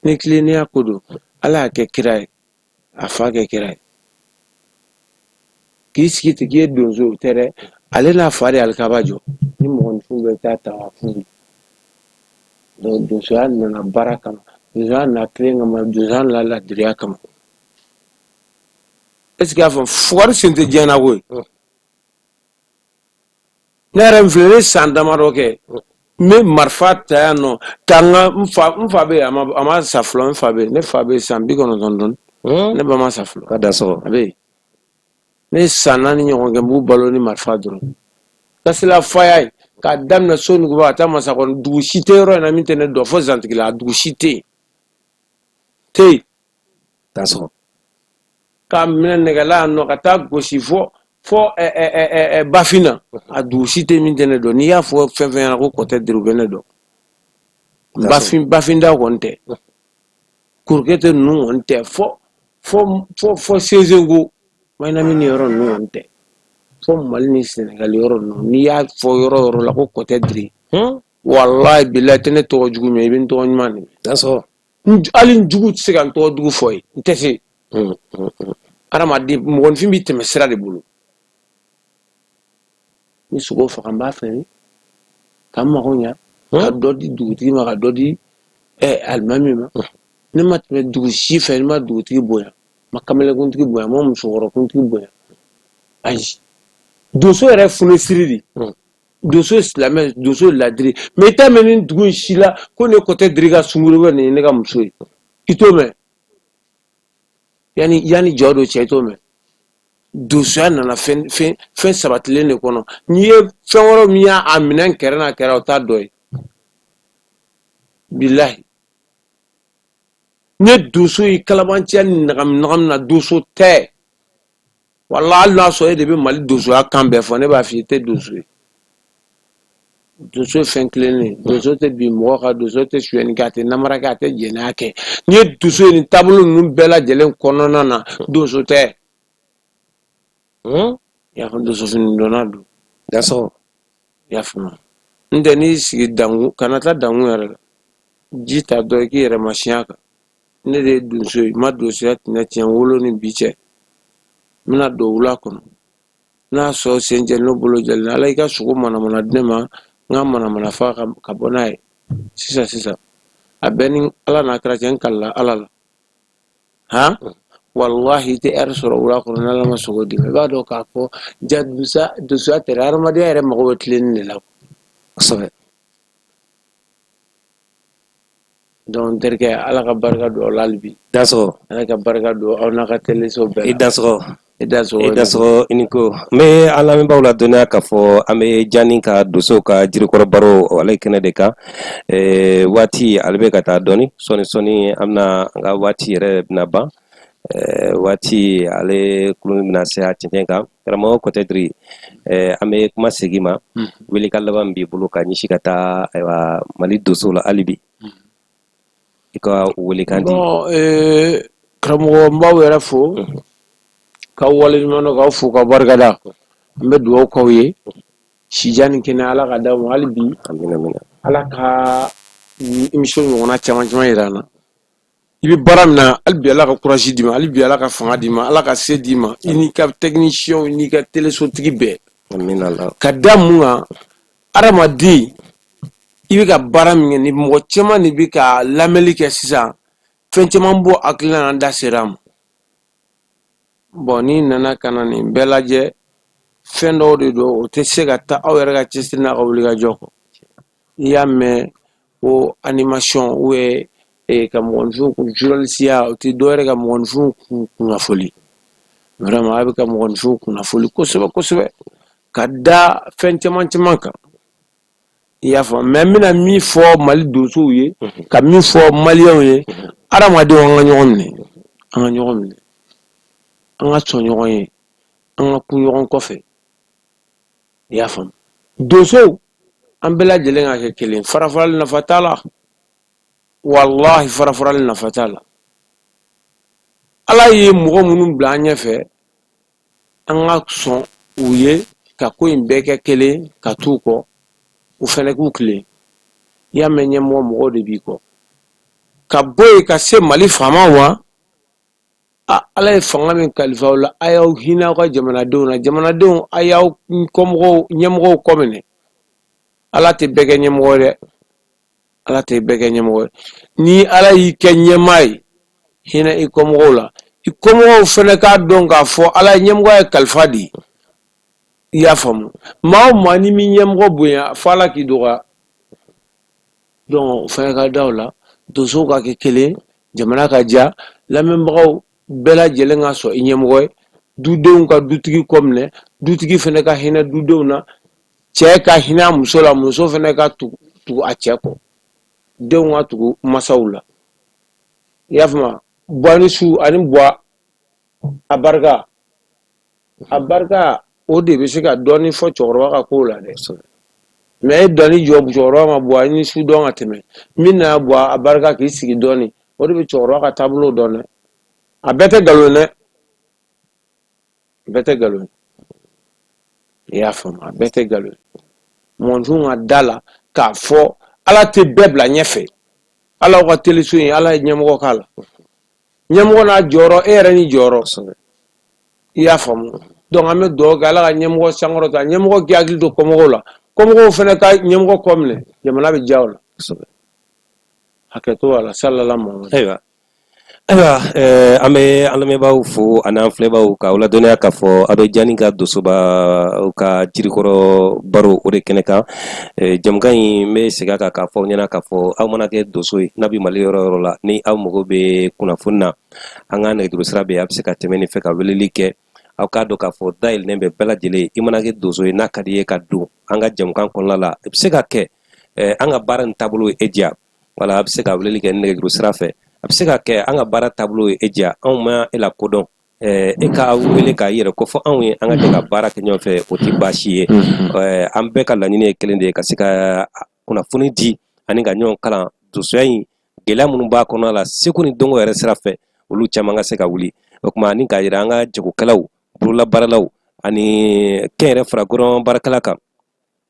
ni tilennenya ko don ala y'a kɛ kira ye a fa kɛ kira ye k'i sigi ten k'i ye donso o tɛ dɛ ale n'a fa de alikaba jɔ ni mɔgɔninfin bɛ taa tawafu donc donsoya nana baara kama donsoya nana tilen kama donsoya nana ladiriya kama est ce que y'a fɔ fugari sen tɛ diɲɛ na koyi ne yɛrɛ n filɛ ne san damadɔ kɛ n bɛ marifa ta yan nɔ ka n ka n fa n fa bɛ yen a ma a ma sa fɔlɔ n fa bɛ yen ne fa bɛ yen san bi kɔnɔntɔn ni duuru Hmm? ne ba ma sa fɔlɔ ka t'a sɔrɔ a bɛ yen ne ye san naani ɲɔgɔn kɛ n b'u balo ni marifa dɔrɔn kasela faya ye k'a daminɛ sonuguba ka taa masakɔrɔ dugu si tɛ yɔrɔ in na min tɛ ne dɔn fo zantigila a dugu si tɛ yen tɛ yen t'a sɔrɔ k'a minɛ nɛgɛla yan nɔ ka taa gosi fɔ fɔ bafin na a dugu si tɛ min tɛ ne dɔn n'i y'a fɔ fɛn fɛn ɲɛna ko kɔtɛ diri u bɛ ne dɔn bafin bafin da kɔni tɛ kurukɛtɛ ninnu kɔni tɛ fɔ fɔ fɔ fɔ sezenko mayinami ni yɔrɔ ninnu kɔni tɛ fɔ mali ni sɛnɛgali yɔrɔ ninnu n'i y'a fɔ yɔrɔ yɔrɔ la ko kɔtɛ diri walayi bilayi i tɛ ne tɔgɔ jugu mɛn i bɛ n tɔgɔ ɲuman de mɛn hali n jugu tɛ se ka n tɔgɔ jugu fɔ ye n tɛ se adamaden mɔgɔnfin b'i tɛmɛsira de bolo ni sogo faga n b'a feere ka n mago ɲa ka dɔ di dugutigi ma ka dɔ di alimami ma ne ma tɛmɛ dugu si fɛ ne ma dugutigi bonya ma kamelekuntigi bonya ma musokɔrɔkuntigi bonya ayi donso yɛrɛ funesiri de donso ye silamɛ donso ye ladiri mɛ i t'a mɛn nin dugu in si la ko ne kɔtɛdiri ka sungurun bɛ nin ye ne ka muso ye i t'o mɛn yanni jɔdon cɛ i t'o mɛn donsoya nana fɛn fɛn fɛn sabatilen de kɔnɔ n'i ye fɛn wɛrɛ min y'a a minɛn kɛrɛ n'a kɛra o t'a dɔ ye bilahi n'i ye donso ye kalabanciya ni ɲagami ɲagami na donso tɛ wala hali n'a sɔrɔ e de bɛ mali donsoya kan bɛɛ fɔ ne b'a fɔ i tɛ donso ye donso ye fɛn tilennen donso tɛ bin mɔgɔ kan donso tɛ suyɛni kɛ a tɛ namara kɛ a tɛ jɛnɛya kɛ n'i ye donso ye nin taabolo ninnu bɛɛ lajɛlen kɔnɔna na donso tɛ hmm? i y'a fɔ donso fini donna don dansɔgɔ i y'a faamu n tɛ n'i sigi dankun kana taa dankun yɛrɛ la ji ta dɔ i k'i yɛrɛ masinya kan ne de ye donso ye n ma donsoya tɛnɛ tiɲɛ n wolo ni bi cɛ n bɛna don wula kɔnɔ n'a sɔrɔ sen jɛ n'o bolo jɛlen ala i ka sogo manamana di ne ma n ka manamana faga ka bɔ n'a ye sisan sisan a bɛ n ni ala n'a kira cɛ n kalila ala la han walahi i tɛ ɛri sɔrɔ wula kɔnɔ n'ala ma sogo d'i ma i b'a dɔn k'a fɔ ja donsoya tɛ dɛ hadamadenya yɛrɛ mago bɛ tilenni de la kosɛbɛ Donc n terikɛ ala ka barika don aw la hali bi dansɔgɔ ala ka barika don aw n'a ka teleso bɛɛ la dansɔgɔ i dansɔgɔ i dansɔgɔ i ni ko n bɛ an lamɛnbaaw ladɔnniya k'a fɔ an bɛ jani ka donsow ka jirikɔrɔ baro o ale kɛnɛ de kan waati ale bɛ ka taa dɔɔni sɔɔni sɔɔni an bɛna an ka waati yɛrɛ bɛna ban waati ale kurun bɛna se a cɛncɛn kan karamɔgɔ kɔtɛdiri eh, an bɛ kuma segin i ma mm. welekan laban b'i bolo ka ɲɛsin ka taa ayiwa mali donsow la hali bi mm. i ka welekan di eh, karamɔgɔ n b'aw yɛrɛ fo mm-hmm. k'aw waleɲuman dɔn k'aw fo ka barikada n bɛ dugawu k'aw ye sijan ni kɛnɛya ala ka d'aw ma hali bi ala ka émission ɲɔgɔnna caman caman yira an na i bɛ baara min na hali bi ala ka courage d'i ma hali bi ala ka fanga d'i ma ala ka se d'i ma i n'i ka tɛkinisiyɛnw n'i ka telesotigi bɛɛ ka da mun kan adamaden i bɛ ka baara min kɛ ni mɔgɔ caman de bɛ ka lamɛnli kɛ sisan fɛn caman b'u hakilina na an da sera a ma bon n'i nana ka na nin bɛɛ lajɛ fɛn dɔw de don o tɛ se ka taa aw yɛrɛ ka cɛsiri n'a ka wulikajɔ kɔ i y'a mɛn ko animation ou bien eh, ka mɔgɔninfinw kun journalisiya o tɛ dɔwɛrɛ ka mɔgɔninfinw kun kunnafoli vraiment a bɛ ka mɔgɔninfinw kunnafoli kosɛbɛ kosɛbɛ ka da fɛn caman caman kan i y'a faamu mɛ n bɛna min fɔ mali donsow ye mhm. ka min fɔ maliyɛnw ye mhm. adamadenw an ka ɲɔgɔn minɛ an ka ɲɔgɔn minɛ an ka sɔn ɲɔgɔn ye an ka kun ɲɔgɔn kɔfɛ i y'a faamu donsow an bɛɛ lajɛlen ka kɛ kelen farafarali nafa t'a la walahi farafarali nafa t'a la ala ye mɔgɔ minnu bila an ɲɛfɛ an ka sɔn u ye ka ko in bɛɛ kɛ kelen ka t'u kɔ u fɛnɛ k'u tilen i y'a mɛn ɲɛmɔgɔ mɔgɔw de b'i kɔ ka bɔ yen ka se mali faamaw ma ala ye fanga min kalifa aw la a y'aw hinɛ aw ka jamanadenw na jamanadenw a y'aw kɔ ɲɛmɔgɔw kɔ minɛ ala tɛ bɛɛ kɛ ɲɛmɔgɔ dɛ ala tɛ bɛɛ kɛ ɲɛmɔgɔ ni ala y'i kɛ ɲɛmaa ye hinɛ i kɔmɔgɔw la i kɔmɔgɔw fɛnɛ k'a dɔn k'a fɔ ala ye ɲɛmɔgɔya kalifa de i y'a faamu maa o maa n'i m'i ɲɛmɔgɔ bonya fɔ ala k'i dɔgɔya Donc u fɛnɛ ka da o la donsow ka kɛ kelen jamana ka diya lamɛnbagaw bɛɛ lajɛlen ka sɔn i ɲɛmɔgɔ ye dudenw ka dutigi kɔ minɛ dutigi fɛnɛ ka hinɛ dudenw na cɛ ka hinɛ a muso la muso fɛnɛ ka tugu a cɛ kɔ denw ka tugu masaw la i y'a faamu buwa ni su ani buwa a barika a barika o de bɛ se ka dɔɔnin fɔ cɛkɔrɔba ka kow la dɛ mais e dɔnni jɔ cɛkɔrɔba ma buwa ni su dɔn ka tɛmɛ min na buwa a barika k'i sigi dɔɔnin o de bɛ cɛkɔrɔba ka taabolo dɔn dɛ a bɛɛ tɛ nkalon dɛ bɛɛ tɛ nkalon i y'a faamu a bɛɛ tɛ nkalon mɔgɔninfin ka da la k'a fɔ ala tɛ bɛɛ bila ɲɛfɛ ala ka teleso in ala ye ɲɛmɔgɔ k'a la ɲɛmɔgɔ n'a jɔyɔrɔ e yɛrɛ n'i jɔyɔrɔ i y'a faamu donc an bɛ dugawu kɛ ala ka ɲɛmɔgɔ sankɔrɔta ɲɛmɔgɔ k'i hakili to kɔmɔgɔw la kɔmɔgɔw fɛnɛ ka ɲɛmɔgɔ kɔ minɛ jamana bɛ diya o la hakɛto a la salala muhamadu ayiwa eh, an bɛ an lamɛnbaaw fo an'an filɛbaaw ka aw ladɔnniya k'a fɔ a bɛ jani ka dosoba ka jirikɔrɔ baro o de kɛnɛ kan jamukan in n bɛ segin a kan k'a fɔ aw ɲɛna k'a fɔ aw mana kɛ donso ye n'a bɛ mali yɔrɔ o yɔrɔ la ni aw mago bɛ kunnafoni na an ka nɛgɛjuru sira bɛ a bɛ se ka tɛmɛ nin fɛ ka weleli kɛ aw k'a dɔn k'a fɔ da yɛlɛlen bɛ bɛɛ lajɛlen i mana kɛ donso ye n'a ka di i ye ka don an ka jamukan kɔnɔna la i bɛ se ka kɛ an ka baara nin taabolo ye e diya wala a bɛ se ka weleli kɛ nɛgɛjuru sira fɛ a bɛ se ka kɛ an ka baara taabolo ye e diya anw ma e la ko dɔn Eh, e ka wele k'a yɛrɛ ko fɔ anw ye an ka jɛ ka baara kɛ ɲɔgɔn fɛ o tɛ baasi ye mm-hmm. eh, an bɛɛ ka laɲini ye kelen de ye ka se ka kunnafoni di ani ka ɲɔgɔn kalan dosoya in gɛlɛya minnu b'a kɔnɔ la seko ni dɔnko yɛrɛ sira fɛ olu caman ka se ka wuli o kuma ani k'a yira an ka jagokɛlaw bololabaaralaw ani kɛnyɛrɛ fara gouvernement baarakɛla kan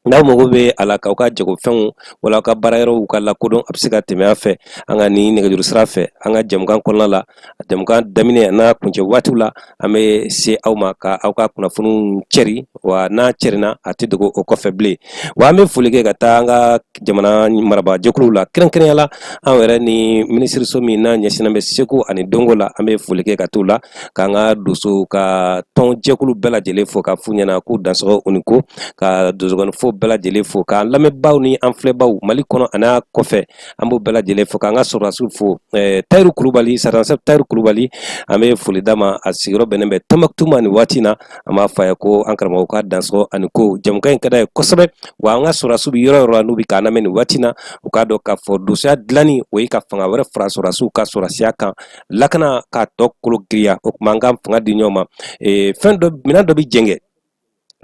N'aw mago bɛ a la k'aw ka jagofɛnw wala aw ka baara yɔrɔw ka lakodɔn a bɛ se ka tɛmɛ a fɛ an ka ni nɛgɛjuru sira fɛ an ka jamukan kɔnɔna la jamukan daminɛ n'a kuncɛ waatiw la an bɛ se aw ma ka aw ka kunnafoniw cɛri wa n'a cɛrinna a tɛ dogo o kɔfɛ bilen wa an bɛ foli kɛ ka taa an ka jamana marabajɛkuluw la kɛrɛnkɛrɛnya la an yɛrɛ ni minisiriso min n'a ɲɛsinnen bɛ seko ani dɔnko la an bɛ foli kɛ ka t'u la k'an ka donso ka tɔn jɛkulu bɛɛ lajɛlen fo k'a f'u ɲɛna k'u dansɔgɔ u ni ko ka donsokɔnifɔ bɛɛ lajɛlen fo k'an lamɛnbaaw ni an filɛbaw mali kɔnɔ ani a kɔfɛ an b'u bɛɛ lajɛlen fo k'an ka sɔrɔdasiw fo eh, tayiru kulubali sarazan sɛfu tayiru kulubali an bɛ foli d'a ma a sigiyɔrɔ bɛnnen bɛ tɔnbukutu ma nin waati in na an b'a fɔ a ye ko an karamɔgɔ ka dansɔgɔ a ni ko jamukan in ka d'a ye kosɛbɛ wa an ka sɔrɔdasiw bɛ yɔrɔ o yɔrɔ la n'u bɛ k'an lamɛn nin waati in na u k'a dɔn k'a fɔ donsoya dilanni o ye ka fanga wɛrɛ fara sɔrɔdasiw ka sɔrɔdasiya kan lakana k'a tɔ kolo giriya o tuma an ka fanga di ɲɔgɔn ma ee, fɛn dɔ minɛn dɔ bɛ jɛngɛ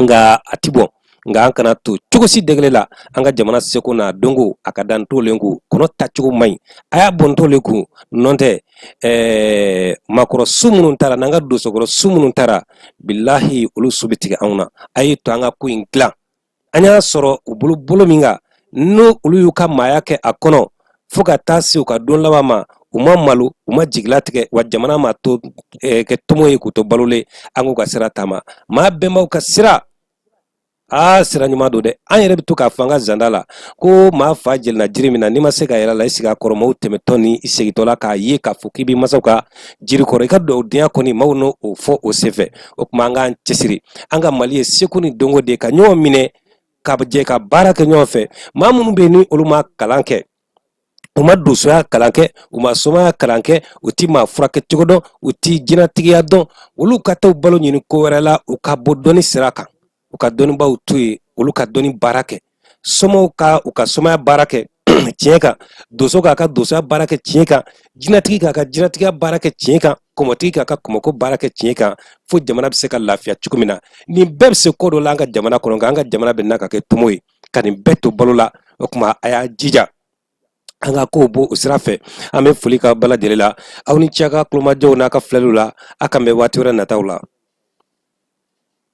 nka a ti bɔn nka an kana to cogo si degele la an ka jamana seko n'a dɔnko a ka dan tolen kun kɔnɔ tacogo man ɲi a y'a bɔn tolen kun nɔntɛ ɛɛ maakɔrɔ su minnu taara n'an ka dosokɔrɔ su minnu taara bilahi olu su bɛ tigɛ anw na a y'a to an ka ko in dilan an y'a sɔrɔ u bolo bolo min kan ni olu y'u ka maaya kɛ a kɔnɔ fo ka taa se u ka don laban ma u ma malo u ma jigila tigɛ wa jamana ma to eh, kɛ tomo ye k'u to balolen an k'u ka sira taama maa bɛnbaw ka sira aa sira ɲuman don dɛ an yɛrɛ bɛ to k'a fɔ an ka zanda la ko maa fa yɛlɛnna jiri min na n'i ma se ka yɛlɛn a la i sigi a kɔrɔ maaw tɛmɛtɔ ni i segintɔ la k'a ye k'a fɔ k'i b'i masaw ka jiri kɔrɔ i ka dugawudenya kɔni maaw n'o fɔ o senfɛ o tuma an k'an cɛsiri an ka mali ye seko ni dɔnko de ye ka ɲɔgɔn minɛ ka jɛ ka baara kɛ ɲɔgɔn fɛ maa minnu bɛ yen ni olu ma kalan kɛ u ma donsoya kalan kɛ u ma somaya kalan kɛ u ti maa furakɛ cogo dɔn u ti jinɛtigiya dɔn olu ka taa balo ɲini ko wɛrɛ la u ka bɔ dɔnni sira kan u ka dɔnnibaw to yen olu ka dɔnni baara kɛ somaw ka u ka somaya baara kɛ tiɲɛ kan donso k'a ka donsoya baara kɛ tiɲɛ kan jinatigi k'a ka jinatigiya baara kɛ tiɲɛ kan kɔmɔtigi k'a ka kɔmɔko baara kɛ tiɲɛ kan fo jamana bɛ se ka lafiya cogo min na nin bɛɛ bɛ se ko dɔ la an ka jamana kɔnɔ nka an ka jamana bɛ na ka kɛ tomo ye ka nin bɛɛ to balo la o tuma a y'a jija an ka kow bɔ o sira fɛ an bɛ foli k'a bɛɛ lajɛlen la aw ni ce a ka kulomajɔw n'a ka filɛliw la a k'an bɛn waati wɛrɛ nataw la